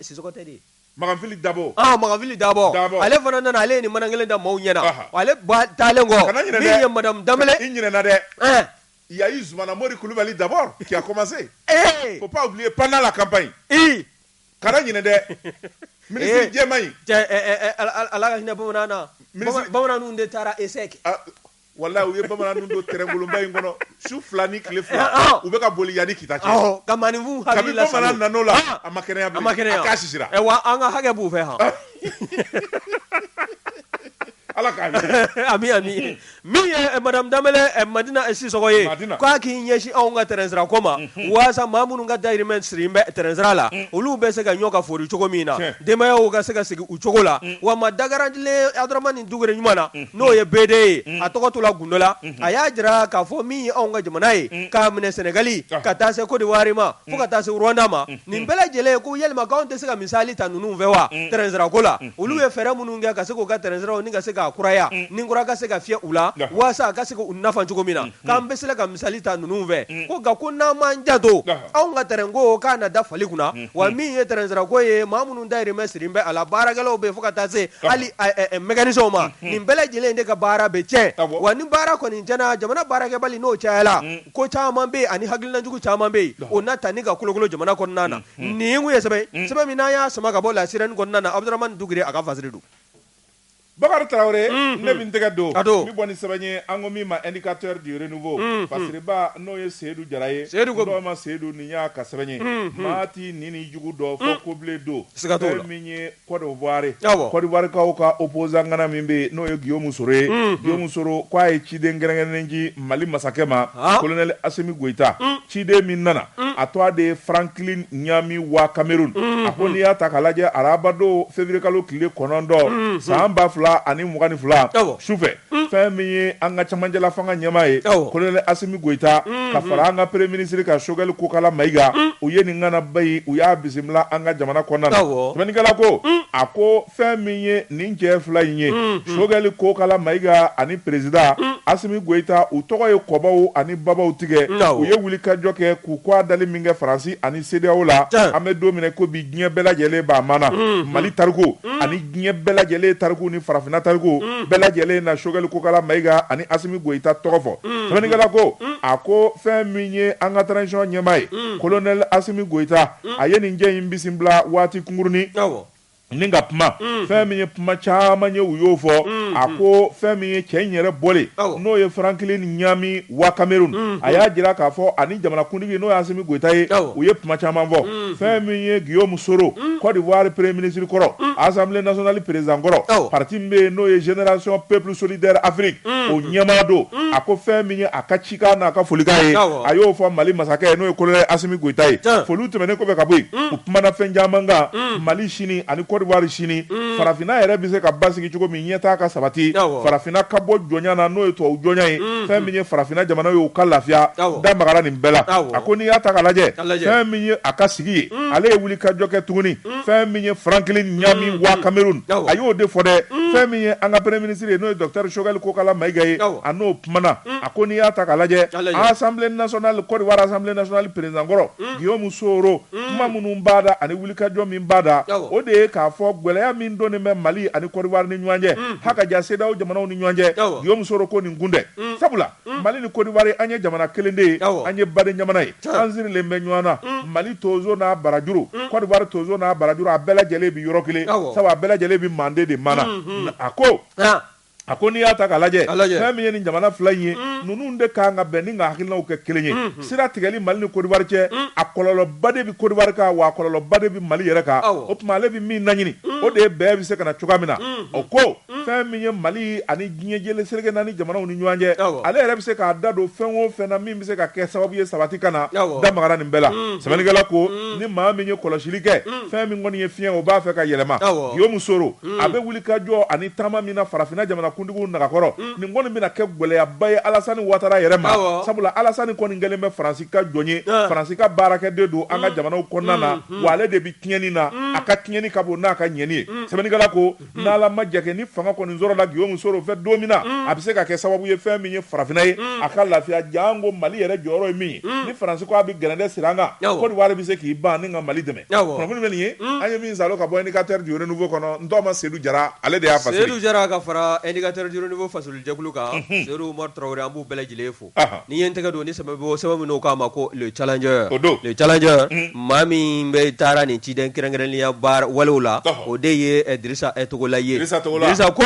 Sisɔkɔ tɛ de Makanfili Dabɔ, ɔhɔ, Makanfili Dabɔ, Dabɔ, ale fana nana, ale ye nin mana kelen da maaw ɲɛna, ɔhɔ, ale ba taalen kɔ, kana ɲinɛ dɛ, min ye madamu Danbɛlɛ, i ɲinɛna dɛ, ɛɛ, il y a eu Zumana Mori Kulubali d'abord qui a commencé, ee, faut pas oublier pendant la campagne, ii, kana ɲinɛ dɛ, ministre jɛman in, cɛ ɛɛ, Ala ka hinɛ bamanan na, bamanan ninnu de taara essai kɛ Walayi u ye bamanan ninnu don tɛrɛn kolonba in kɔnɔ su fila ni tile fila, ɔhɔ, u bɛ ka boli yan ni Kita cɛ, awɔ, ka maaninfinw hakili lasago, kabini bamanan nana o la, ɔn, a ma kɛnɛya bilen, a ma kɛnɛya, a cas sisira, ɛ wa an ka hakɛ b'u fɛ han, Ala ka hinɛ, ami ami, min ye madame Danbɛlɛ Madina Sisɔkɔ ye, Madina, k'a k'i ɲɛsin anw ka tɛrɛn sira ko ma, unhun, walasa maa minnu ka dahirimɛ sirilen bɛ tɛrɛn sira la, un, olu bɛ se ka ɲɔn ka foori cogo min na, tiɲɛ, denbayaw ka se ka sigi u cogo la, un, wa maa dagarantilen Abudaramani Dukure ɲuman na n'o ye BD ye a tɔgɔ tola gundo la a y'a jira k'a fɔ min ye anw ka jamana ye k'a minɛ sɛnɛgali ka taa se Kɔdiwari ma fo ka taa se Rwanda ma nin bɛɛ lajɛlen ko yalima k'anw tɛ se ka misali ta ninnu fɛ wa tɛrɛn sira ko la olu ye fɛɛrɛ minnu kɛ ka se k'u ka tɛrɛn siraw ni ka se ka kuraya ni kura ka se ka fiyɛ u la walasa a ka se k'u nafa cogo min na k'an bɛ se ka misali ta ninnu fɛ ko nka ko n'an m'an janto anw ka tɛrɛn ko k'a na da fali kunna wa min ye tɛrɛn sira ko ye maa minnu dahirimɛ sirilen bɛ a la baarakɛlaw bɛ yen fo ka taa se hali mécanicien ma nin bɛɛ lajɛlen de ka baara bɛ tiɲɛ wa ni baara kɔni tiɲɛna jamana baarakɛbali n'o cayala ko caman bɛ yen ani hakilina jugu caman bɛ yen o na tali ka kolokolo jamana kɔnɔna na nin ye n kun ye sɛbɛn ye sɛbɛn min n'an y'a sama ka bɔ La Sirène kɔnɔna na Abudaramani Dukure a ka fasiri don. Bakari Tarawele ne bɛ n tɛgɛ don n bɛ bɔ ni sɛbɛn ye an ko min ma indicateur du renouveau fasiriba n'o ye Seyidu Jara ye Seyidu ko don ma Seyidu nin y'a ka sɛbɛn ye maa t'i ɲin n'i jugu dɔn fo kobilen don siga t'o la fɛn min ye Cote d'Ivoire awɔ Cote d'Ivoire kaw ka opposant ŋana min bɛ yen n'o ye Guillaume Soro ye Guillaume Soro k'a ye ciden kɛrɛnkɛrɛnnen di Mali masakɛ ma colonel Assimi Goyita ciden min nana a tɔgɔ de ye franklin ɲami wa cameroun a ko n'i y'a ta k'a lajɛ arabadon février kalo tile kɔnɔntɔn san ba fila ani mugan ni fila sufɛ fɛn min ye an ka cɛmancɛla fanga ɲɛmaa ye kolonɛli asimi goyita ka fara an ka premier minisiri kan sogɛli kokala mayiga u ye nin ŋanaba in u y'a bisimila an ka jamana kɔnɔna na sɛbɛnnikɛla ko a ko fɛn min ye nin cɛ fila in ye sogɛli kokala mayiga ani perezidan asimi goyita u tɔgɔ ye kɔbaw ani babaw tigɛ u ye wulikajɔ kɛ k'u k'a dali min kɛ faransi ani sedeyaw la an bɛ don min na ko bi diɲɛ bɛɛ lajɛlen b'a maana mali tariku ani diɲɛ bɛɛ lajɛlen tariku ni farafinna tariku bɛɛ lajɛlen na sogɛli kokala mayiga ani asimi goyita tɔgɔ fɔ sɛbɛnnikɛla ko a ko fɛn min ye an ka transition ɲɛmaa ye kolonɛli asimi goyita a ye nin cɛ in bisimila waati kunkurunnin Ni ka kuma fɛn min ye kuma caman ye u y'o fɔ a ko fɛn min ye cɛ in yɛrɛ bɔlen n'o ye franklin ɲami wa kameruni a y'a jira k'a fɔ ani jamanakuntigi n'o ye asimi goyita ye u ye kuma caman fɔ fɛn min ye guillaume soro kodiwari premier minisiri kɔrɔ assemblée nationale perezidan kɔrɔ pariti min bɛ yen n'o ye génération peuple solidaire afrique o ɲɛmaa don a ko fɛn min ye a ka ci n'a ka folikan ye a y'o fɔ mali masakɛ ye n'o ye kolonɛli asimi goyita ye foli tɛmɛnen kɔfɛ ka bɔ yen u kumana fɛn caman kan mali sini ani kodiwari sini farafinna yɛrɛ bɛ se ka basigi cogo min ɲɛtaa ka sabati farafinna ka bɔ jɔnya na n'o ye tubabu jɔnya ye fɛn min ye farafinna jamana ye u ka lafiya da magara nin bɛɛ la a ko n'i y'a ta ka lajɛ fɛn min ye a ka sigi ye ale ye wulikajɔ kɛ tuguni fɛn min ye franklin ɲami wa kameruni a y'o de fɔ dɛ fɛn min ye an ka premier minisiri ye n'o ye docteur sogɛli kokala mayiga ye a n'o kumana a ko n'i y'a ta ka lajɛ assemblée nationale kodiwari assemblée nationale perezidan kɔrɔ guillaume soro kuma minnu b'a da ani wulikajɔ min b'a da o de ye k'a fɔ gɛlɛya min donnen bɛ mali ani kodiwari ni ɲɔgɔn cɛ ha ka jan sedeyaw jamanaw ni ɲɔgɔn cɛ guillaume soro ko nin kun tɛ sabula mali ni kodiwari an ye jamana kelen de ye an ye baden jamana ye an sirilen bɛ ɲɔgɔn na mali tonso n'a barajuru kodiwari tonso n'a barajuru a bɛɛ lajɛlen bɛ yɔrɔ kelen sabu a bɛɛ lajɛlen bɛ manden de mana a ko A ko n'i y'a ta ka lajɛ fɛn min ye nin jamana fila in ye ninnu de ka kan ka bɛn ni ka hakilinaw kɛ kelen ye sira tigɛli mali ni kodiwari cɛ a kɔlɔlɔba de bɛ kodiwari kan wa a kɔlɔlɔba de bɛ mali yɛrɛ kan o tuma ale bɛ min naɲini o de ye bɛn bɛ se ka na cogoya min na o ko fɛn min ye mali ani diɲɛ jɛlen seleke naani jamanaw ni ɲɔgɔn cɛ ale yɛrɛ bɛ se k'a da don fɛn o fɛn na min bɛ se ka kɛ sababu ye sabati ka na da magara nin bɛɛ la sɛbɛnnikɛla ko ni maa min ye kɔlɔsili kɛ fɛn min kɔni ye fiɲɛ ye o b'a fɛ ka yɛlɛma guillaume soro a bɛ wulikajɔ ani taama min na farafinna jamanakuntigiw nagakɔrɔ nin kɔni bɛna kɛ gɛlɛyaba ye Alasani Watara yɛrɛ ma sabula Alasani kɔni kɛlen bɛ Faransi ka jɔn ye Faransi ka baarakɛden don an ka jamanaw kɔnɔna na wa ale de bɛ tiɲɛni na a ka tiɲɛni ka bon n'a ka ɲɛni ye sɛbɛnnikɛla ko n'Ala ma jɛ kɛ ni fanga kɔni sɔrɔla Guillaume Soro fɛ don min na a bɛ se ka kɛ sababu ye fɛn min ye farafinna ye a ka lafiya janko Mali yɛrɛ jɔyɔrɔ ye min ye ni Faransi ko a bɛ gɛrɛntɛ sigi an kan Kodowari bɛ se k'i ban ani ka Mali dɛmɛ. bɛ nin ye an ye min sa ka bɔ katɛugu kɔnɔ n ma sedu jara ale de y'a jara ka fara eratjfɔ fasolija kan sema tarawele an b'u bɛɛ lajɛlen fo nii ye n tɛgɛ don ni saba sɛbɛn min k'a ma ko cajɛ o don cɛ maa min bɛ taara nin ciden kɛrɛnkɛrɛnya baara waliw la o de ye disa e tɔgɔla yesa ko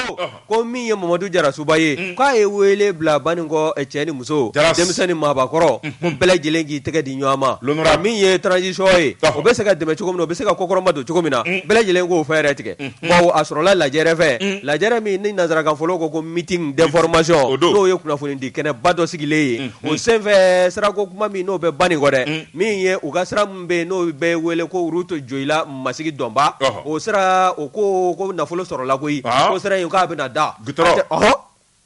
Ko min ye Mamadu Jarasuba ye, un, k'a ye wele bila Banikɔ cɛ ni muso, Jaras, denmisɛn ni maabakɔrɔ, unhun, ko bɛɛ lajɛlen k'i tɛgɛ di ɲɔgɔn ma, l'honorable, ka min ye transition ye, ɔhɔ, o bɛ se ka dɛmɛ cogo min na, o bɛ se ka kɔkɔrɔma don cogo min na, un, bɛɛ lajɛlen k'o fɛɛrɛ tigɛ, unhun, bawo a sɔrɔla lajɛrɛ fɛ, un, lajɛrɛ min ni nanzarakanfɔlaw ko ko meeting d'information o don, n'o ye kunnafonidi kɛnɛba dɔ sigilen ye, unhun, o senfɛ sirako kuma min n'o bɛ Banikɔ dɛ, un, min ye u ka sira bɛ yen n'o bɛ wele ko route Joyila Masigi Dɔnba, ɔhɔ, o sira o ko ko nafolo sɔrɔla koyi, ɔɔ, ko sira in k'a bɛna da goudron, ɔhɔ,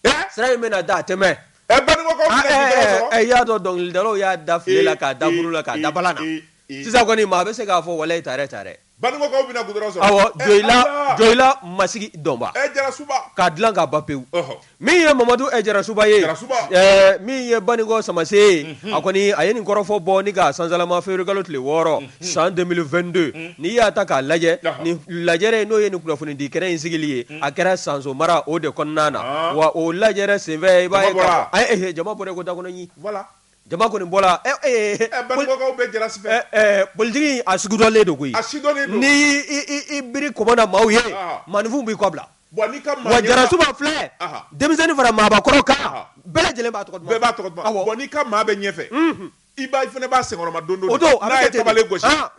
ee, sira in bɛna da a tɛ mɛn, ɛ Banikɔkaw bɛna goudron sɔrɔ, ɛ i y'a dɔn dɔnkilidalaw y'a da file la k'a da buru la k'a da balan na, ee, ee, ee, sisan kɔni maa bɛ se k'a fɔ walayi tare tare Banikɔkaw bɛna goudron sɔrɔ, awɔ, Joyila, ɛɛ Ala, Joyila Masigi Dɔnba, ɛɛ Jarasuba, k'a dilan k'a ban pewu, ɔhɔ, min ye Mamadu ɛɛ Jarasuba ye, Jarasuba, ɛɛ min ye Banikɔ samase ye, unhun, a kɔni a ye nin kɔrɔfɔ bɔ ni k'a sansalama fewuriyekalo tile wɔɔrɔ, unhun, san 2022, unhun, n'i y'a ta k'a lajɛ, ɔhɔ, nin lajɛrɛ n'o ye nin kunnafonidi kɛnɛ in sigili ye, unhun, a kɛra Sanso mara o de kɔnɔna na, ɔɔ, wa o lajɛrɛ senfɛ i b'a ye, jama bɔra, jama bɔra i ko dakɔnɔɲin, voilà Jama kɔni bɔra bakaw bɛ jarasi politigi a sugudɔlen de koyi n''i bi kɔda maaw ye maninfin b'i kɔ bila wa jararasiw filɛ denmisɛnnin fara maakɔrɔ kan bɛɛ lajɛlen b'a b'a ka maa bɛ ɲɛfɛ i ba fana b'a senkɔrɔma don don don i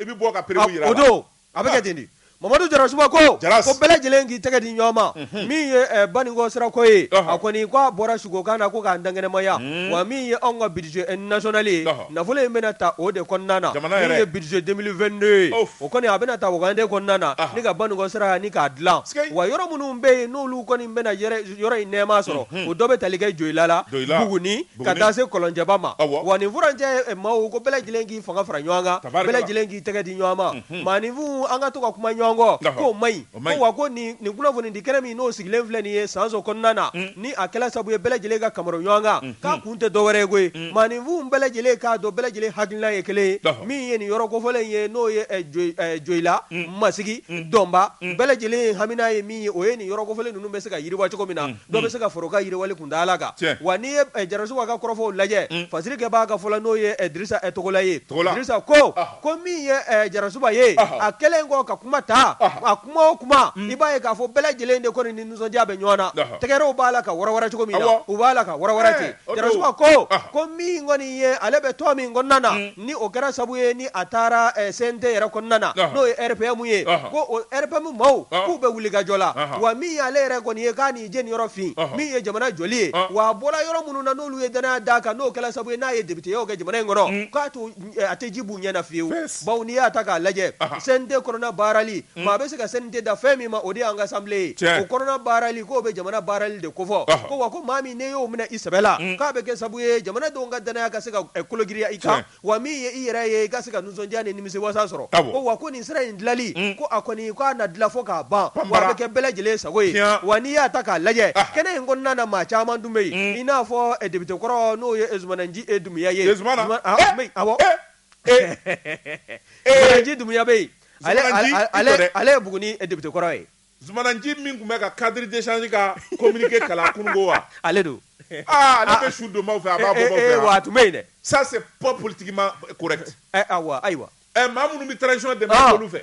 bɛ bɔ ka o don A bɛ kɛ ten de mamadu jarasuba ko bɛɛ lajɛlen k'i tɛgɛ di ɲɔgɔn ma min ye banikɔ sirako ye a kɔni k'a bɔra sukokan na ko k'an dankɛnɛmaya wa min ye anw ka budget national ye nafolo in bɛna ta o de kɔnɔna na min ye budget 2022 ye o kɔni a bɛna ta wagande kɔnɔna na ni ka banikɔ sira ni k'a dilan wa yɔrɔ minnu bɛ yen n'olu kɔni bɛna yɔrɔ in nɛɛma sɔrɔ o dɔ bɛ tali kɛ joyila la buguni ka taa se kɔlɔnjɛba ma wa nin furancɛ maaw ko bɛɛ lajɛlen k'i fanga fara ɲɔgɔn kan bɛɛ lajɛlen i tɛgɛ di ɲɔgɔn ma maaninfin an ka to ka kuma ɲɔgɔn kɔ k'o man ɲi wa ko nin kunnafoni di kɛnɛ min n'o sigilen filɛ nin ye sanso kɔnɔna na ni a kɛla sabu ye bɛɛ lajɛlen ka kamaro ɲɔgɔn kan k'a kun tɛ dɔwɛrɛ ye koyi maaninfin bɛɛ lajɛlen k'a dɔn bɛɛ lajɛlen hakilina ye kelen ye min ye nin yɔrɔ kofɔlen ye n'o ye joyila masigi dɔnba bɛɛ lajɛlen hamina ye min ye o ye nin yɔrɔ kofɔlen ninnu bɛ se ka yiriwa cogo min na dɔ bɛ se ka fara u ka yiriwali kuntaala kan, tiɲɛ, wa n'i ye Jarasuba ka kɔrɔfɔw lajɛ, un, fasirikɛbaa ka fɔ la n'o ye Dirisa Togola ye, Togola, Dirisa ko, ɔhɔ, ko min ye Jarasuba ye, ɔhɔ, a kɛlen kɔ ka kuma ta, ɔhɔ, a kuma o kuma, un, i b'a ye k'a fɔ bɛɛ lajɛlen de kɔni ni nisɔndiya bɛ ɲɔgɔn na, ɔhɔ, tɛgɛrɛw b'a la ka wara-wara cogo min na, awɔ, u b'a la ka wara-wara ten, ee, o don, Jarasuba ko, ɔhɔ, ko min kɔni ye ale bɛ tɔn min kɔnɔna na, un. Ni o kɛra sabu ye ni a taara CNT yɛrɛ kɔnɔna na n'o ye RPM ye ko o RPM maaw k'u bɛ wulikajɔ la wa min y'ale yɛrɛ kɔni ye k'a nin jeniyɔrɔ fin min ye jamana jɔli ye wa a bɔra yɔrɔ minnu na n'olu ye dannaya d'a kan n'o kɛra sabu ye n'a ye députéyaw kɛ jamana in kɔnɔ k'a to a tɛ ji b'u ɲɛ na fiyewu bawo n'i y'a ta k'a lajɛ CNT kɔnɔna baarali Unhun. Maa bɛ se ka CNT da fɛn min ma, o de y'an ka Assemblée ye. Tiɲɛ. O kɔnɔna baarali, k'o bɛ jamana baarali de kofɔ. Ɔhɔ. Ko wa ko maa min n'i y'o minɛ i sɛbɛ la. Un. K'a bɛ kɛ sabu ye jamanadenw ka danaya ka se ka ɛ kologiriya i kan. Tiɲɛ. Wa min ye i yɛrɛ ye, i ka se ka nisɔndiya ni nimisiwasa sɔrɔ. Awɔ. Ko wa ko nin sira in dilali. Un. Ko a kɔni, ko a na dila fo k'a ban. Ban bara. Wa a bɛ kɛ bɛɛ lajɛlen sago ye. Tiɲan. Wa n'i y'a ta k'a lajɛ. Aha. Kɛnɛ in kɔnɔna na maa caman tun bɛ yen. Un. I n'a fɔ ɛ député kɔrɔ n'o ye ɛ Zumana Nci Dumuya ye. Ye Zumana? Zuma, ɔɔ, a tun bɛ yen, awɔ. Ee! eeji dunya bɛ ale ye bugun debitokɔrɔ ye zmananci min tun bɛ ka kadiridcli ka komge kalan kun wa ale don bɛ su don fɛ a b'a bɔ tun bɛ yen dɛ sa p politigi ma ayiwa ɛ maa minnu bɛ taarazcɔn de fɛ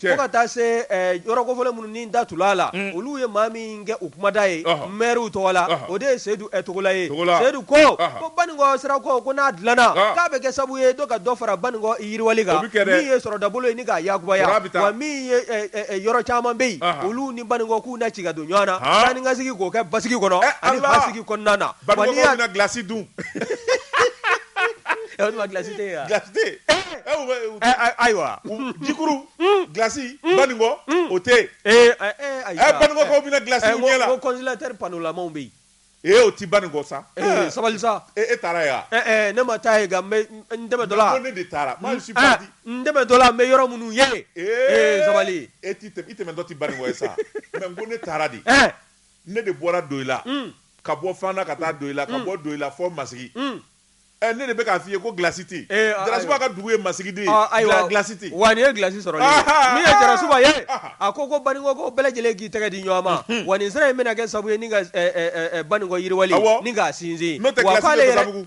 Cɛ. Fo ka taa se ɛɛ yɔrɔ kofɔlen minnu ni n da tula a la, un, olu ye maa min kɛ u kumada ye, ɔhɔ, maires tɔgɔ la, ɔhɔ, o de ye Seyidu ɛ Togola ye, Togola, Seyidu ko, ɔhɔ, ko Baninkɔ sira ko ko n'a dilanna, ɔn, k'a bɛ kɛ sabu ye dɔ ka dɔ fara Baninkɔ yiriwali kan, o bɛ kɛ dɛ, min ye sɔrɔdabolo ye ni k'a yakubaya, Kɔrɔ a bɛ taa, wa min ye ɛ ɛ ɛ yɔrɔ caman bɛ yen, ɔnhɔn, olu ni Baninkɔ k'u na se ka don ɲɔgɔn na, han, taanikasegin k'o kɛ basigi kɔnɔ, ɛ Ala, ani hakilisigi kɔnɔna na, wa n'i y'a Baninkɔkaw bɛna glace dun glasi ayiwa jikuru glasi Baninkɔ o tɛ yen Baninkɔkaw bɛna glasi dun congélateur panneauw bɛ yen e o tɛ Baninkɔ sa sabali sa e taara yen ne ma taa yen nka n tɛmɛtɔ la ne de taara n tɛmɛtɔ la n bɛ yɔrɔ minnu ye sabali e tɛmɛtɔ tɛ Baninkɔ ye sa ko ne taara de Ne de bɔra Doyila ka bɔ Fana ka taa Doyila ka bɔ Doyila fo Masigi ɛ ne de bɛ k'a f'i ye ko glasi tɛ yen Jarasuba ka dugu ye Masigi de ye, ɔ ayiwa, glasi tɛ yen, wa nin ye glasi sɔrɔli ye, ahaa, min ye Jarasuba ye, ahaa, a ko ko Banikɔ ko bɛɛ lajɛlen k'i tɛgɛ di ɲɔgɔn ma, unhun, wa nin sira in bɛna kɛ sabu ye ni ka ɛ ɛ ɛ Banikɔ yiriwali, awɔ, ni k'a sinsin, n'o tɛ glasi tɛ Basabugu, wa k'ale yɛrɛ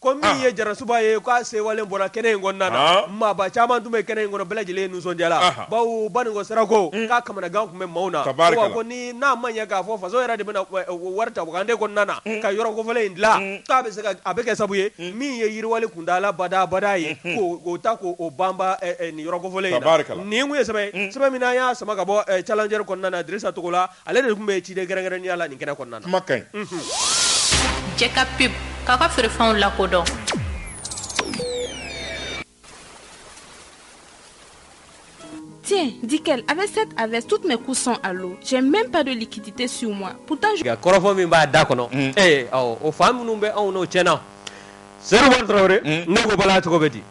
Ko min ye Jarasuba ye k'a sewalen bɔra kɛnɛ in kɔnɔna na maaba caman tun bɛ kɛnɛ in kɔnɔ bɛɛ lajɛlen nisɔndiyala bawo Baninkɔ sirako k'a kamanagan tun bɛ maaw na ko ni n'a ma ɲɛ k'a fɔ faso yɛrɛ de bɛna wari ta wagande kɔnɔna na ka yɔrɔ kofɔlen in dila k'a bɛ se a bɛ kɛ sabu ye min ye yiriwali kuntaala badabada ye k'o ta k'o banba nin yɔrɔ kofɔlen in na nin ye sɛbɛn sɛbɛn min n'an y'a sama ka bɔ Challenger kɔnɔna na Dirisa Togola Ale de tun bɛ ciden kɛrɛnkɛrɛnnenya la nin kɛnɛ kɔnɔna na kuma ka ɲi Jɛka pub k'a ka feerefɛnw lakodɔn tiens Dikel avec cette avec toutes mes courses là j'ai même pas de liquidité sur moi kɔrɔfɔ min b'a da kɔnɔ o fa minnu bɛ anw tiɲɛna Seyidu Tarawele ne ko Bala cogo bɛ di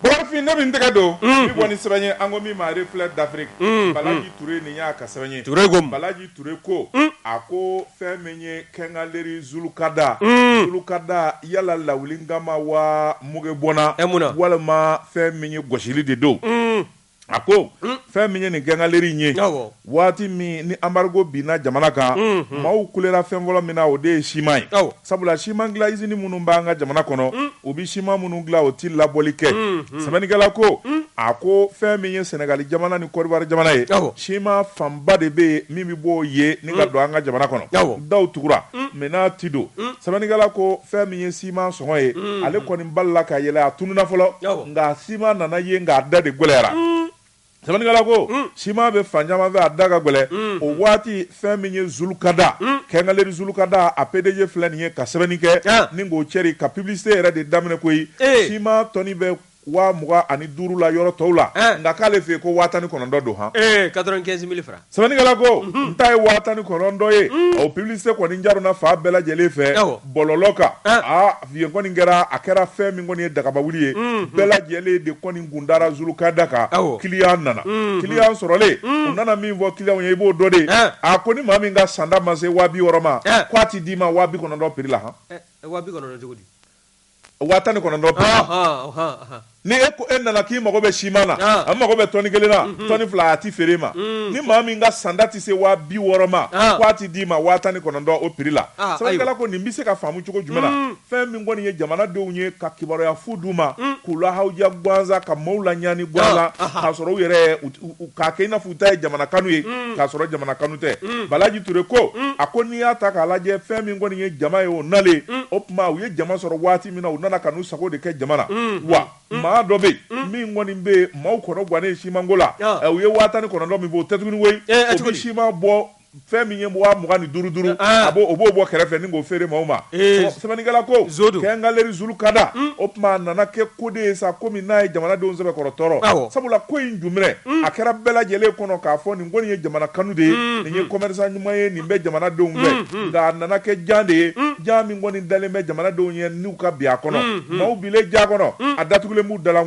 Bafin ne min tɛgɛ don bɔ ni sɛbɛn ye an ko min ma Reflet d'Afrique balaji ture nin y'a ka sɛbɛn ye balaji ture ko a ko fɛn min ye kɛngaleri zulukada zulukada yala lawulikama wa mugu bɔnna e mun walima fɛn min ye gosili de don A ko fɛn min ye nin kɛngaleri in ye waati min ni embargo binna jamana kan maaw kulera fɛn fɔlɔ min na o de ye sima ye sabula sima dilan izini minnu b'an ka jamana kɔnɔ u bɛ sima minnu dilan o tɛ labɔli kɛ sɛbɛnnikɛla ko a ko fɛn min ye sɛnɛgali jamana ni Côte d'Ivoire jamana ye sima fanba de bɛ yen min bɛ bɔ o yen ni ka don an ka jamana kɔnɔ daw tugura mɛ n'a tɛ don sɛbɛnnikɛla ko fɛn min ye sima sɔngɔ ye ale kɔni balila ka yɛlɛ a tununa fɔlɔ Awɔ. nka sima nana ye nka a da de gɛlɛyara sɛbɛnnikɛla ko sima bɛ fan caman fɛ a da ka gɛlɛ o waati fɛn min ye zulukada kɛngaleri zulukada a pdg filɛ nin ye ka sɛbɛnni kɛ Ah. ni k'o cɛri ka publicité yɛrɛ de daminɛ koyi Eh. sima tɔni bɛ waa mugan ani duuru la yɔrɔ tɔw la Eh. nka k'ale fɛ yen ko waa tan ni kɔnɔntɔn don han ee 95 000 francs Sɛbɛnnikɛla ko n ta ye waa tan ni kɔnɔntɔn ye o publicité kɔni jaruna fan bɛɛ lajɛlen fɛ bɔlɔlɔ kan aa yen kɔni kɛra a kɛra fɛn min kɔni ye dagaba wuli ye bɛɛ lajɛlen de kɔni kun dara zulukada kan kiliyan nana kiliyan sɔrɔlen u nana min fɔ kiliyanw ye i b'o dɔn dɛ a ko ni maa min ka sanda ma se waa bi wɔɔrɔ ma ko a tɛ d'i ma waa bi kɔnɔntɔn piri la han waa tan ni kɔnɔntɔn ni e ko e nana k'i mago bɛ sima na a mago bɛ tɔni kelen na tɔni fila a tɛ feere ma ni maa min ka sanda tɛ se waa bi wɔɔrɔ ma k'a tɛ d'i ma waa tan ni kɔnɔntɔn o piri la sɛbɛnnikɛla ko nin bɛ se ka faamu cogo jumɛn na fɛn min kɔni ye jamanadenw ye ka kibaruya fu d'u ma k'u lahawuja gansan ka maaw laɲani gansan k'a sɔrɔ u yɛrɛ K'a kɛ i n'a fɔ u ta ye jamana kanu ye, un, k'a sɔrɔ jamana kanu tɛ, un, Balaji Ture ko, un, a ko n'i y'a ta k'a lajɛ fɛn min kɔni ye jama ye o nalen, un, o tuma u ye jama sɔrɔ waati min na u nana ka n'u sago de kɛ jama na, unhun, wa maa dɔ bɛ yen, un, min kɔni bɛ maaw kɔnɔ gannen siman ko la, ɔ, ɛ u ye waa tan ni kɔnɔntɔn min fɔ o tɛ tuguni koyi, ee, ɛ tuguni, o bɛ siman bɔ Fɛn min ye waa mugan ni duuru duuru a o b'o bɔ kɛrɛfɛ ni k'o feere maaw ma sɛbɛnnikɛla ko kɛngaleri zulukada o tuma a nana kɛ ko de ye sa kɔmi n'a ye jamanadenw sɛbɛkɔrɔ tɔɔrɔ sabula ko in daminɛ a kɛra bɛɛ lajɛlen kɔnɔ k'a fɔ nin kɔni ye jamana kanu de ye nin ye commerçant ɲuman ye nin bɛ jamanadenw fɛ nka a nana kɛ jan de ye jan min kɔni dalen bɛ jamanadenw ye n'u ka bin a kɔnɔ maaw binnen jan kɔnɔ a datugulen b'u dala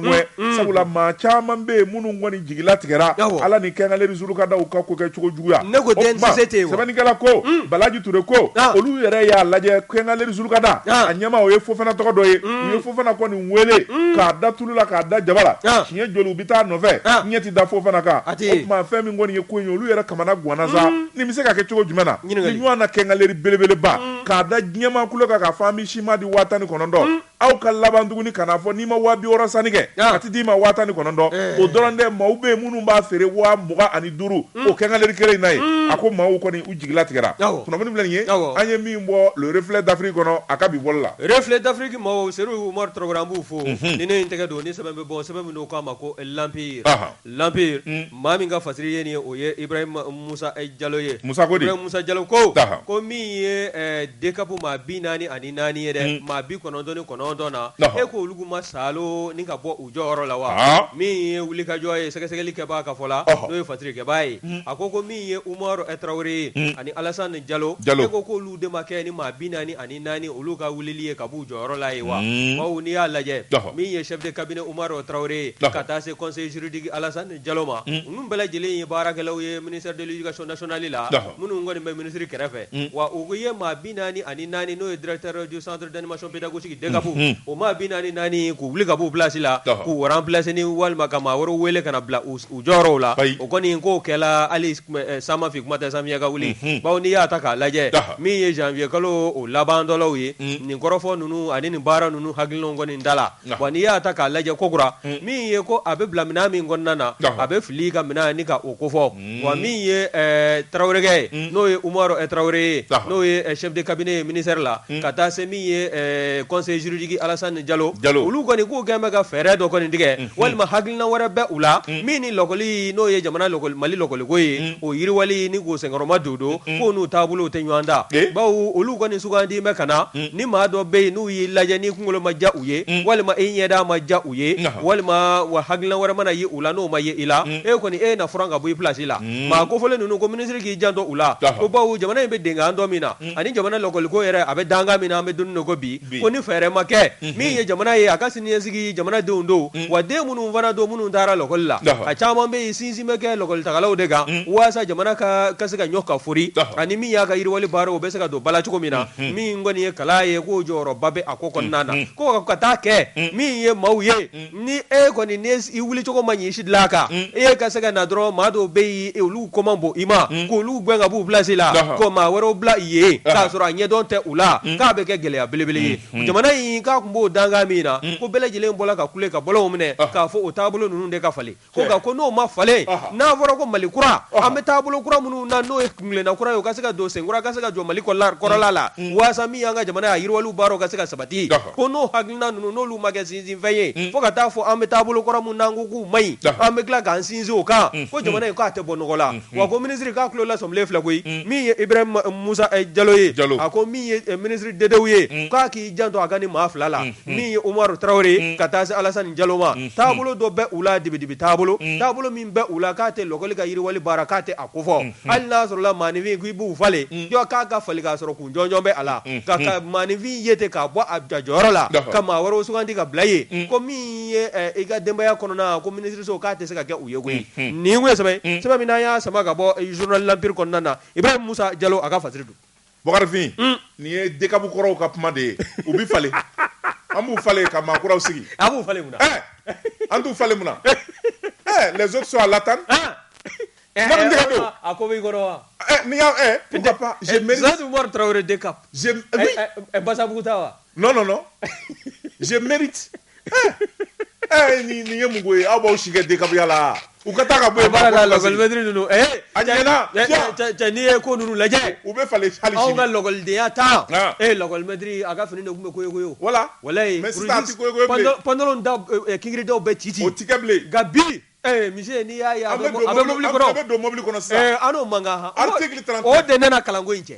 sabula maa caman bɛ yen minnu kɔni jigilatigɛra ala ni kɛngaleri zulukada ka ko kɛ cogo juguya sɛbɛnnikɛla ko balaji ture ko olu yɛrɛ y'a lajɛ kɛngaleri zulukada a ɲɛmaa o ye fofana tɔgɔ dɔ ye u ye fofana kɔni weele k'a da tulu la k'a da jaba la siɲɛ joli u bɛ taa nɔfɛ ɲɛ tɛ da fofana kan o tuma fɛn min kɔni ye ko in ye olu yɛrɛ kamanaganna sa nin bɛ se ka kɛ cogo jumɛn na nin ɲɔgɔnna kɛngaleri belebeleba k'a da diɲɛ maa kulo kan k'a fɔ an bɛ sima di waa tan ni kɔnɔntɔn aw ka laban tuguni kana fɔ n'i ma waa bi wɔɔrɔ sanni kɛ a tɛ d'i ma waa tan ni kɔnɔntɔn eh. o dɔrɔn tɛ maaw bɛ yen minnu b'a feere waa mugan ani duuru mm. o quincaillerie kelen in na ye mm. a ko maaw kɔni u jigila tigɛra kunnafoni filɛ nin ye an ye min bɔ le reflet d'Afrique kɔnɔ a ka bi bɔli la reflet d'Afrique maaw Seydou Umaru Tarawele an b'u fo mhm. ni ne ye n tɛgɛ don ni sɛbɛn bɛ bɔ sɛbɛn min n'u k'a ma ko l'empire L'Empire Un! maa min ka fasiri ye nin ye, o ye Ibrahim Moussa Diallo ye. Moussa ko di? Ibrahim Moussa Diallo ko, Aha. ko min ye ɛɛ DCAP maa 44 ye dɛ, Un! maa 99 na, Ɔhɔ! e ko olu ma salo ni ka bɔ u jɔyɔrɔ la wa? Haa! Min ye wulikajɔ ye sɛgɛsɛgɛli kɛbaa ka fɔ la, Ɔhɔ! n'o ye fasiri kɛbaa ye, Un! a ko ko min ye Umaru Tarawele ye, Un! ani Alassane Diallo, Diallo, e ko k'olu de ma kɛ ni maa 40 ani naani olu ka wulili ye ka b'u jɔyɔrɔ la ye wa bawo n'i y'a lajɛ min ye chef de cabinet Umaru Tarawele ye ka taa se conseil juridique Alassane Diallo ma ninnu bɛɛ lajɛlen ye baarakɛlaw ye ministère de l'éducation nationale la minnu kɔni bɛ minisiri kɛrɛfɛ wa u ye maa bi naani ani naani n'o ye directeur du centre d'animation pédagogique DCAP o maa bi naani naani k'u wuli ka b'u place la k'u remplacer walima ka maa wɛrɛ wele ka na bila u jɔyɔrɔw la u kɔni k'o kɛra ali San ma fin kuma tɛ samiya ka wuli bawo n'i y'a ta k'a lajɛ min ye janvier kalo o laban dɔ ye nin kɔrɔfɔ ninnu ani nin baara ninnu hakilina kɔni da la wa n'i y'a ta k'a lajɛ kokura min ye ko a bɛ bila minna min kɔnɔna na a bɛ fili ka minɛn ɲini ka o ko fɔ wa min ye tarawelekɛ ye n'o ye Umaru Tarawele ye n'o ye chef de cabinet ministère la ka taa se min ye conseil juridique Alassane Diallo Diallo olu kɔni k'u kɛlen bɛ ka fɛɛrɛ dɔ kɔni tigɛ walima hakilina wɛrɛ bɛ u la min ni lakɔli n'o ye jamana mali lɔkɔliko ye o yiriwali ni k'o senkɔrɔ madondon ko n'u taabolo tɛ ɲɔgɔn ta bawo olu kɔni nin sugandi bɛ ka na ni maa dɔ bɛ yen n'u y'i lajɛ n'i kunkolo ma diya u ye walima e ɲɛda ma diya u ye walima wa hakilila wɛrɛ mana ye u la n'o ma ye i la e kɔni e na faran ka bɔ i place la maa ko fɔlen ninnu ko minisiri k'i janto u la ko bawo jamana in bɛ dankan dɔ min na ani jamana lɔkɔliko yɛrɛ a bɛ dankan min na an bɛ don ko bi ko ni fɛɛrɛ ma kɛ min ye jamana ye a ka siniɲɛsigi jamanadenw don wa den minnu fana don minnu taara lakɔli la a caman bɛ sinsin bɛ kɛ lakɔlitagalaw de kan walasa jamana ka ka se ka ɲɔ ka fori ani min y'a ka yiriwali baara o bɛ se ka don ba la cogo min na min kɔni ye kalan ye k'o jɔyɔrɔba bɛ a ko kɔnɔna na ko ka taa kɛ min ye maaw ye ni e kɔni i wulicogo man ɲi sidilan kan e ye ka se ka na dɔrɔn maa dɔw bɛ yen olu ko man bon i ma k' olu gɛn ka b'u place la ko maa wɛrɛw bila yen k'a sɔrɔ a ɲɛdɔn tɛ u la k'a bɛ kɛ gɛlɛya belebele ye jamana in k'a kun b'o dankan min na ko bɛɛ lajɛlen bɔra ka kule ka bɔlɔnw minɛ k'a fɔ o taabolo ninnu de ka falen Ko nka ko n'o ma falen n'a fɔra ko mali kura an bɛ taabolo kura minnu na n'o ye kunkolona kura ye u ka se ka don sen kura ka se ka jɔ mali kɔ kɔrɔla la walasa min y'an ka jamana ye a yiriwali baara ka se ka sabati ko n'o hakilina ninnu n'olu ma kɛ sinsinfɛn ye fo ka taa fɔ an bɛ taabolo kura min na ko k'u man ɲi an bɛ tila k'an sinsin o kan ko jamana k'a tɛ bɔ nɔgɔ la wa ko minisiri k'a tulo lasɔmilen filɛ koyi min ye Ibrahim musa jalo ye jalo a ko min ye minisiri Dédéou ye k'a k'i janto a ka nin maa fila la min ye Umaru Tarawele ye ka taa se Alasani Jalo ma taabolo dɔ bɛ u la dibi-dibi taabolo taabolo min bɛ u la k'a tɛ lɔkɔli ka yiriwali baara k'a tɛ a ko fɔ hali n'a sɔrɔ la maanifin ko i b'u falen jɔ k'a falen k'a sɔrɔ kun jɔnjɔn bɛ a la ka ka maanifin ye ten k'a bɔ a a jɔyɔrɔ la ka maa wɛrɛw suganti ka bila yen ko min ye i ka denbaya kɔnɔna ko minisiriso k'a tɛ se ka kɛ u ye koyi nin kun ye sɛbɛn ye sɛbɛn min n'an y'a sama ka bɔ journal de l'empire kɔnɔna na Ibrahim Musa Jalo a ka fasiri don. Bakarifin nin ye dekabu kɔrɔw ka kuma de ye u bɛ falen an b'u falen ka maa kuraw sigi an b'u falen munna an t'u falen munna les autres sont à l'attente a ko wa n'i y'az Tarawele dekabu basabuguta wa non non non je mérite eh, eh ni ni ye mugo ye aw b'aw si kɛ dekabuya la u ka taa ka bɔ yen baara la lakɔlimɛtiri ninnu eh a ɲɛna cɛ n'i ye ko ninnu lajɛ u bɛ falen hali sini anw ka lakɔlidenya ta ah. eh lakɔlimɛtiri a ka fini de tun bɛ koyokoyo voilà walayi mais sisan a tɛ koyokoyo bilen pantalon da eh, eh, kingiridaw bɛɛ ci ci o tɛ kɛ bilen nka bi eh mise n'i y'a ye a bɛ mobili kɔnɔ a bɛ don mobili kɔnɔ sisan eh an n'o man kan article 39 o de nana kalanko in cɛ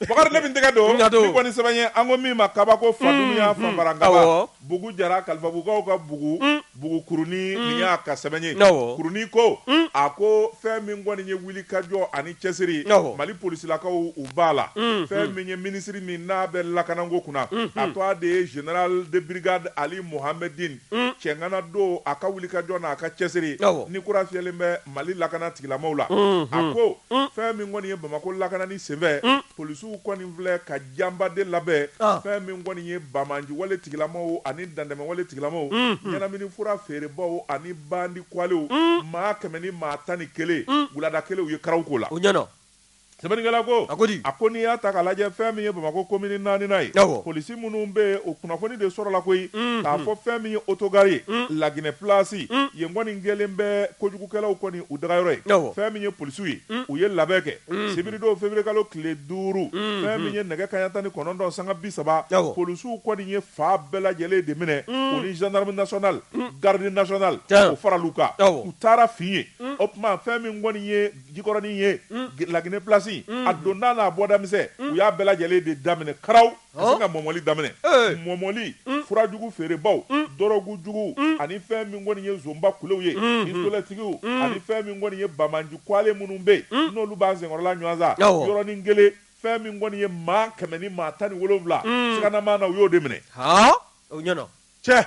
Bakari ne bɛ n tɛgɛ don nin kɔni sɛbɛn ye an ko min ma kabako faduya fara ka bugu jara kalifabugukaw ka bugu kurunin ni y'a ka sɛbɛn ye kurunin ko a ko fɛn min kɔni ye wulikajɔ ani cɛsiri mali polisilakaw u b'a la fɛn min ye minisiri min n'a bɛ lakanako kunna a tɔgɔ de ye général de brigade Ali Mouhamedine cɛŋana don a ka wulikajɔ na a ka cɛsiri ni kura fiyɛlen bɛ mali lakana tigilamaw la a ko fɛn min kɔni ye bamakɔ lakanani senfɛ polisiw kɔni filɛ ka janba de labɛn fɛn min kɔni ye bamanjiwale tigilamaw ani dantɛmɛwale tigilamaw ɲɛnamini fura feerebaw ani bandi kwalew maa kɛmɛ ni maa tan ni kelen wulada kelen u ye karaw ko la Sɛbɛnnikɛla ko, a ko di? A ko n'i y'a ta k'a lajɛ fɛn min ye Bamakɔ komini naaninan ye, awɔ, polisi minnu bɛ yen o kunnafoni de sɔrɔla koyi, unhun, k'a fɔ fɛn min ye autogare ye, un, La Guinee place, un, yen kɔni kɛlen bɛ kojugukɛlaw kɔni u dagayɔrɔ ye, awɔ, fɛn min ye polisiw ye, un, u ye labɛn kɛ, unhun, sibiridon feburuyekalo tile duuru, unhun, fɛn min ye nɛgɛ kanɲɛ tan ni kɔnɔntɔn sanga bi saba, awɔ, polisiw kɔni ye faa bɛɛ lajɛlen de minɛ, un, u ni gendarme national, un, garde national, tiɲɛ, o faral'u kan, awɔ, u taara fin yen, un, o tuma fɛn min kɔni ye Jikɔrɔnin ye laginɛ plasi a donda n'a bɔda misɛn u y'a bɛɛ lajɛlen de daminɛ karaw ka sin ka mɔmɔli daminɛ mɔmɔli furajugu feerebaw dɔrɔgu jugu ani fɛn min kɔni ye zonba kulew ye pistolɛtigiw ani fɛn min kɔni ye bamanji kuale minnu bɛ yen n'olu b'an senkɔrɔla ɲɔgɔnsa yɔrɔnin kelen fɛn min kɔni ye maa kɛmɛ ni maa tan ni wolonwula siganama na u y'o de minɛ cɛ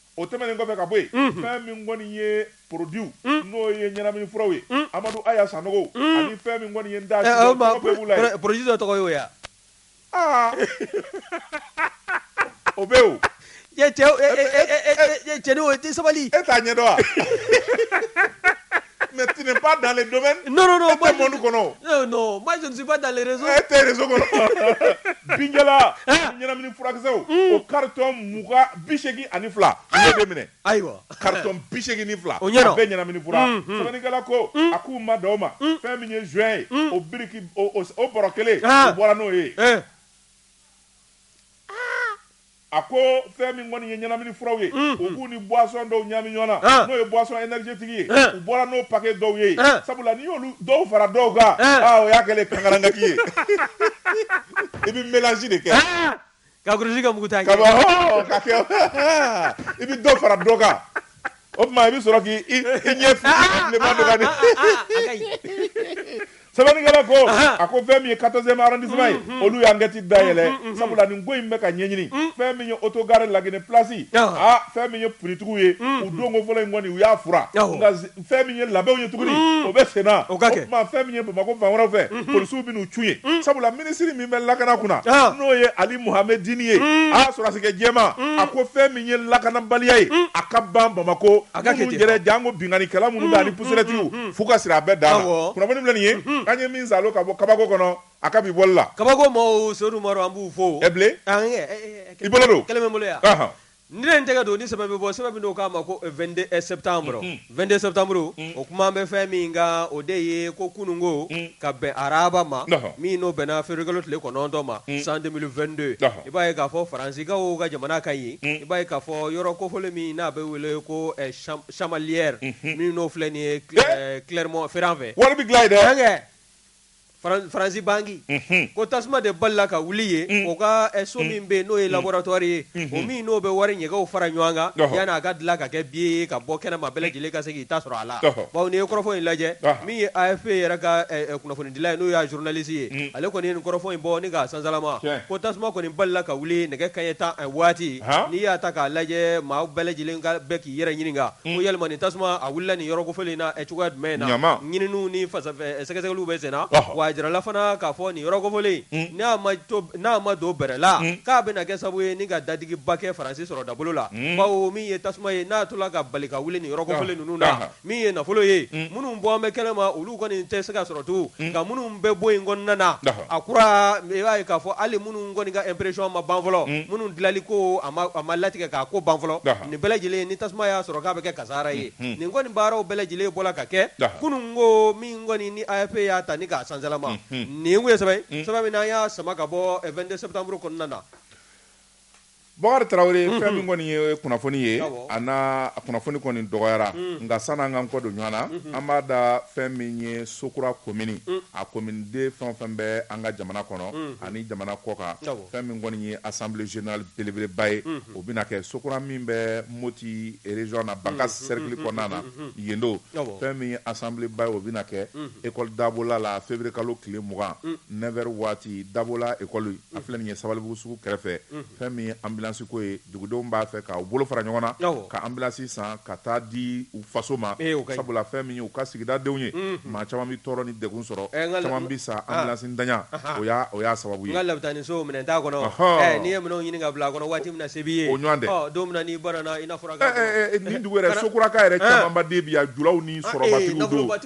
O tɛmɛnen kɔfɛ ka bɔ yen, unhun, fɛn min kɔni ye produits un, n'o ye ɲɛnamini furaw ye, un, Amadu Aya Sanogo un, ani fɛn min kɔni ye n da sigi o tɔgɔ bɛɛ b'u la yen. Produit dɔ tɔgɔ ye o ye wa? Aa! O bɛ yen o. Cɛ, cɛ, e e e e e cɛnin o i tɛ sabali. E t'a ɲɛdɔn wa? Mais tu n'es pas dans le domaine. Non, non, non. E tɛ monde kɔnɔ. Non, non. Moi, je ne suis pas dans les réseaux. E tɛ réseau kɔnɔ. Binjala. Ɲɛnamini furakisɛw. O carton mugan bi seegin ani fila. U y'o de minɛ. Ayiwa. Carton bi seegin ni fila. O ɲɛna. A bɛɛ ɲɛnamini fura. Sɛbɛnnikɛla ko. A k'u ma dan o ma. Fɛn min ye joint ye. O biriki o bɔrɔ kelen. U bɔra n'o ye. A ko fɛn min kɔni ye ɲɛnamini furaw ye u k'u ni boisson dɔw ɲami ɲɔgɔn na n'o ye boisson énergétique ye u bɔra n'o paquet dɔw ye sabula n'i y'olu dɔw fara dɔw kan aa o y'a kɛlen ye kankarangaki ye i bɛ mélange de kɛ ka kurusi kɛ muguta ye ka bɔ i bɛ dɔ fara dɔ kan O tuma i bɛ sɔrɔ k'i i ɲɛ bilenman don ka di. Sɛbɛnnikɛla ko a ko fɛn min ye 14e arrondissement ye olu ye enquête dayɛlɛ sabula nin ko in bɛ ka ɲɛɲini fɛn min ye autogare La Guinee place aa fɛn min ye finitigiw ye u donko fɔlɔ in kɔni u y'a furan nka fɛn min ye labɛnw ye tuguni o bɛ senna o tuma fɛn min ye Bamakɔ fan wɛrɛw fɛ polisiw bɛn'u cun yen sabula minisiri min bɛ lakana kunna n'o ye ali muhammedini ye mm. a sɔrɔdasikɛ jɛman mm. a ko fɛn min ye lakanabaliya ye mm. a ka ban bamakɔ a ka yɛrɛ janko binkannikɛla minnu bɛ ani pusɛrɛtigiw fo ka sira a bɛɛ da kunnafoni filɛ nin ye an ye min sa ka bɔ kabako kɔnɔ a ka bi bɔli la kabako maaw sedu an b'u fo i bolo don bolo Ni ne n tɛgɛ don ni sɛbɛn bɛ bɔ sɛbɛn min n'o k'a ma ko 22 septembre 22 septembre o kuma bɛ fɛn min kan o de ye ko kunun ko ka bɛn araba ma min n'o bɛnna février kalo tile kɔnɔntɔn ma san 2022 i b'a ye k'a fɔ Faransikaw ka jamana kan yen i b'a ye k'a fɔ yɔrɔ kofɔlen min n'a bɛ wele ko Chamalières min n'o filɛ nin ye Clermont Ferrand fɛ wari bɛ dilan yen dɛ Faransi banque ko tasuma de balala ka wuli yen u ka so min bɛ yen n'o ye laboratoire ye o min n'o bɛ wari ɲɛgɛnw fara ɲɔgɔn kan yani a ka dilan ka kɛ biye ye ka bɔ kɛnɛma bɛɛ lajɛlen ka se k'i ta sɔrɔ a la bawo n'i ye kɔrɔfɔ in lajɛ min ye AFP yɛrɛ ka kunnafonidila ye n'o y'a journaliste ye ale kɔni ye nin kɔrɔfɔ in bɔ ni k'a sansalama ko tasuma kɔni balila ka wuli nɛgɛ kanɲɛ tan waati n'i y'a ta k'a lajɛ maa bɛɛ lajɛlen ka yɛrɛ ɲininka ko yalima nin tasuma a wulila nin yɔrɔ kofɔlen na cogoya jumɛn na ɲininiw ni sɛgɛsɛgɛliw bɛ sen na w'a jirala fana k'a fɔ nin yɔrɔ kofɔlen n'a ma don bɛrɛ la k'a bɛna kɛ sababu ye ni ka dadigiba kɛ faransi sɔrɔ dabolo la bawo min ye tasuma ye n'a tola ka bali ka wuli nin yɔrɔ kofɔlen ninnu na min ye nafolo ye minnu bɔlen bɛ kɛnɛ ma olu kɔni tɛ se ka sɔrɔ tugun nka minnu bɛ bon in kɔnɔna na a kura i b'a ye k'a fɔ hali minnu kɔni ka impression ma ban fɔlɔ minnu dilanli ko a ma latigɛ k'a ko ban fɔlɔ nin bɛɛ lajɛlen ni tasuma y'a sɔrɔ k'a bɛɛ kɛ kasaara ye nin kɔni baaraw bɛɛ lajɛlen bɔra ka kɛ kunun ko min kɔni ni AFP y'a ta ni k'a sansalama nin ye sɛbɛn min n'an y'a sama ka bɔ 22 septembre kɔnɔna na Bakari Tarawele unhun fɛn min kɔni ye o ye kunnafoni ye awɔ a n'a kunnafoni kɔni dɔgɔyara unnn nka sann'an k'an kɔ don ɲɔan na unhun an b'a da fɛn min ye Sokura komini unh a komini den fɛn o fɛn bɛ an ka jamana kɔnɔ unhun ani jamana kɔkan awɔ fɛn min kɔni ye assemblée générale belebeleba ye unhun o bɛna kɛ Sokura min bɛ Moti région na Bankass unhun cercle unhun kɔnɔna na unhun yen don awɔ fɛn min ye assemblée ba ye o bɛna kɛ unhun école Dabola la février kalo tile 20 unh 9 heures waati Dabola école A filɛ nin ye sabalibugu sugu kɛrɛfɛ fɛn min ye anbilansi ko ye dugudenw b'a fɛ k'u bolo fara ɲɔgɔn na ka anbilansi san ka taa di u faso ma sabula fɛn min ye u ka sigidadenw ye maa caman bɛ tɔɔrɔ ni degun sɔrɔ caman bɛ sa anbilansi ntanya o y'a sababu ye n ka labitani so minɛn t'a kɔnɔ n'i ye minɛnw ɲini ka bila a kɔnɔ waati min na se b'i ye o ɲɔgɔn tɛ don min n'i banana i n'a fɔ nin dugu yɛrɛ sokuraka yɛrɛ camanba de bi yan julaw ni sɔrɔ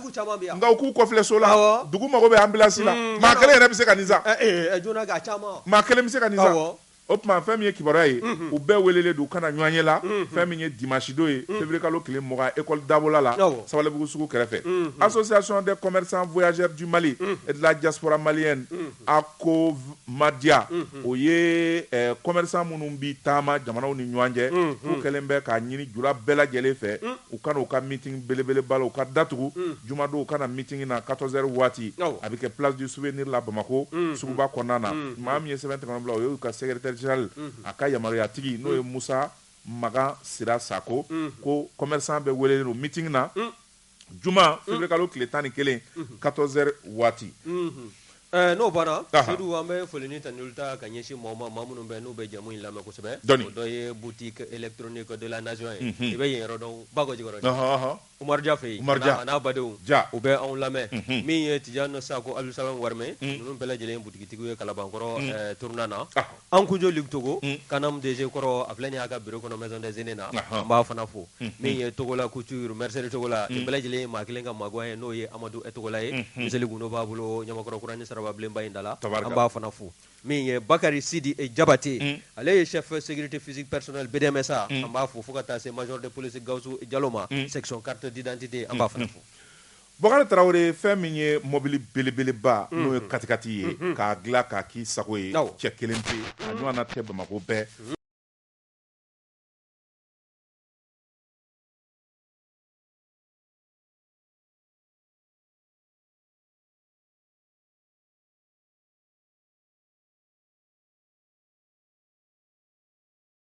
nka u k'u kɔfilɛ so la dugu mago bɛ anbilansi la maa kelen yɛrɛ bɛ se ka nin san maa kelen bɛ se ka nin san o tuma fɛn min ye kibaruya ye u bɛɛ welelen don u ka na ɲɔgɔnye la fɛn min ye dimansidon ye février kalo tile mugan école dabola la sabalibugu sugu kɛrɛfɛ association des commerçants voyageurs du mali et de la diaspora malienne COVMADIA o ye commerçant minnu bɛ taama jamanaw ni ɲɔgɔn cɛ u kɛlen bɛ k'a ɲini jula bɛɛ lajɛlen fɛ u ka na u ka meeting belebeleba la u ka datugu jumadon u ka na meeting na quatorze heures waati a bɛ kɛ place du souvenir la bamakɔ suguba kɔnɔna na maa min ye sɛbɛn tɛgɛnɔ bila o y'u ka secrétaire général a ka yamaruyatigi n'o ye musa makan sira sakɔ ko commerçant bɛɛ welelen don meeting na Juma février kalo tile tan ni kelen quatorze heures waati n'o banna sedu an bɛ foli ni tanuli ta ka ɲɛsin mɔgɔ ma maa minnu bɛ n'u bɛ jamu in lamɛn kosɛbɛ o dɔ ye boutique électronique de la nation ye i bɛ yen yɔrɔ dɔn bakɔ jikɔrɔni umaru ja fɛ yen a n'a badenw ja u bɛ anw lamɛn min ye tijani sakɔ abudusalam warmɛ ninnu bɛɛ lajɛlen ye butigitigiw ye kalabankɔrɔ tournant na Ankunjo Luc togo CANAM DG kɔrɔ a filɛ nin y'a ka bureau kɔnɔ maison des aînés na an b'a fana fo min ye togola couture mercerie togola nin bɛɛ lajɛlen ye maa kelen ka magoya ye n'o ye amadu togola ye miseli gundo b'a bolo ɲamakɔrɔ kurani sirabilenba in da la an b'a fana fo min ye bakari sidi jabate ale ye chef sécurité physique personnel BDM SA an b'a fo fo ka taa se major de police gawusu jalo ma section carte d'identité an b'a fana fo Bɔkari Tarawele fɛn min ye mɔbili belebeleba n'o ye katikati ye k'a dilan k'a k'i sago ye cɛ kelen pe a ɲɔgɔnna tɛ Bamako bɛɛ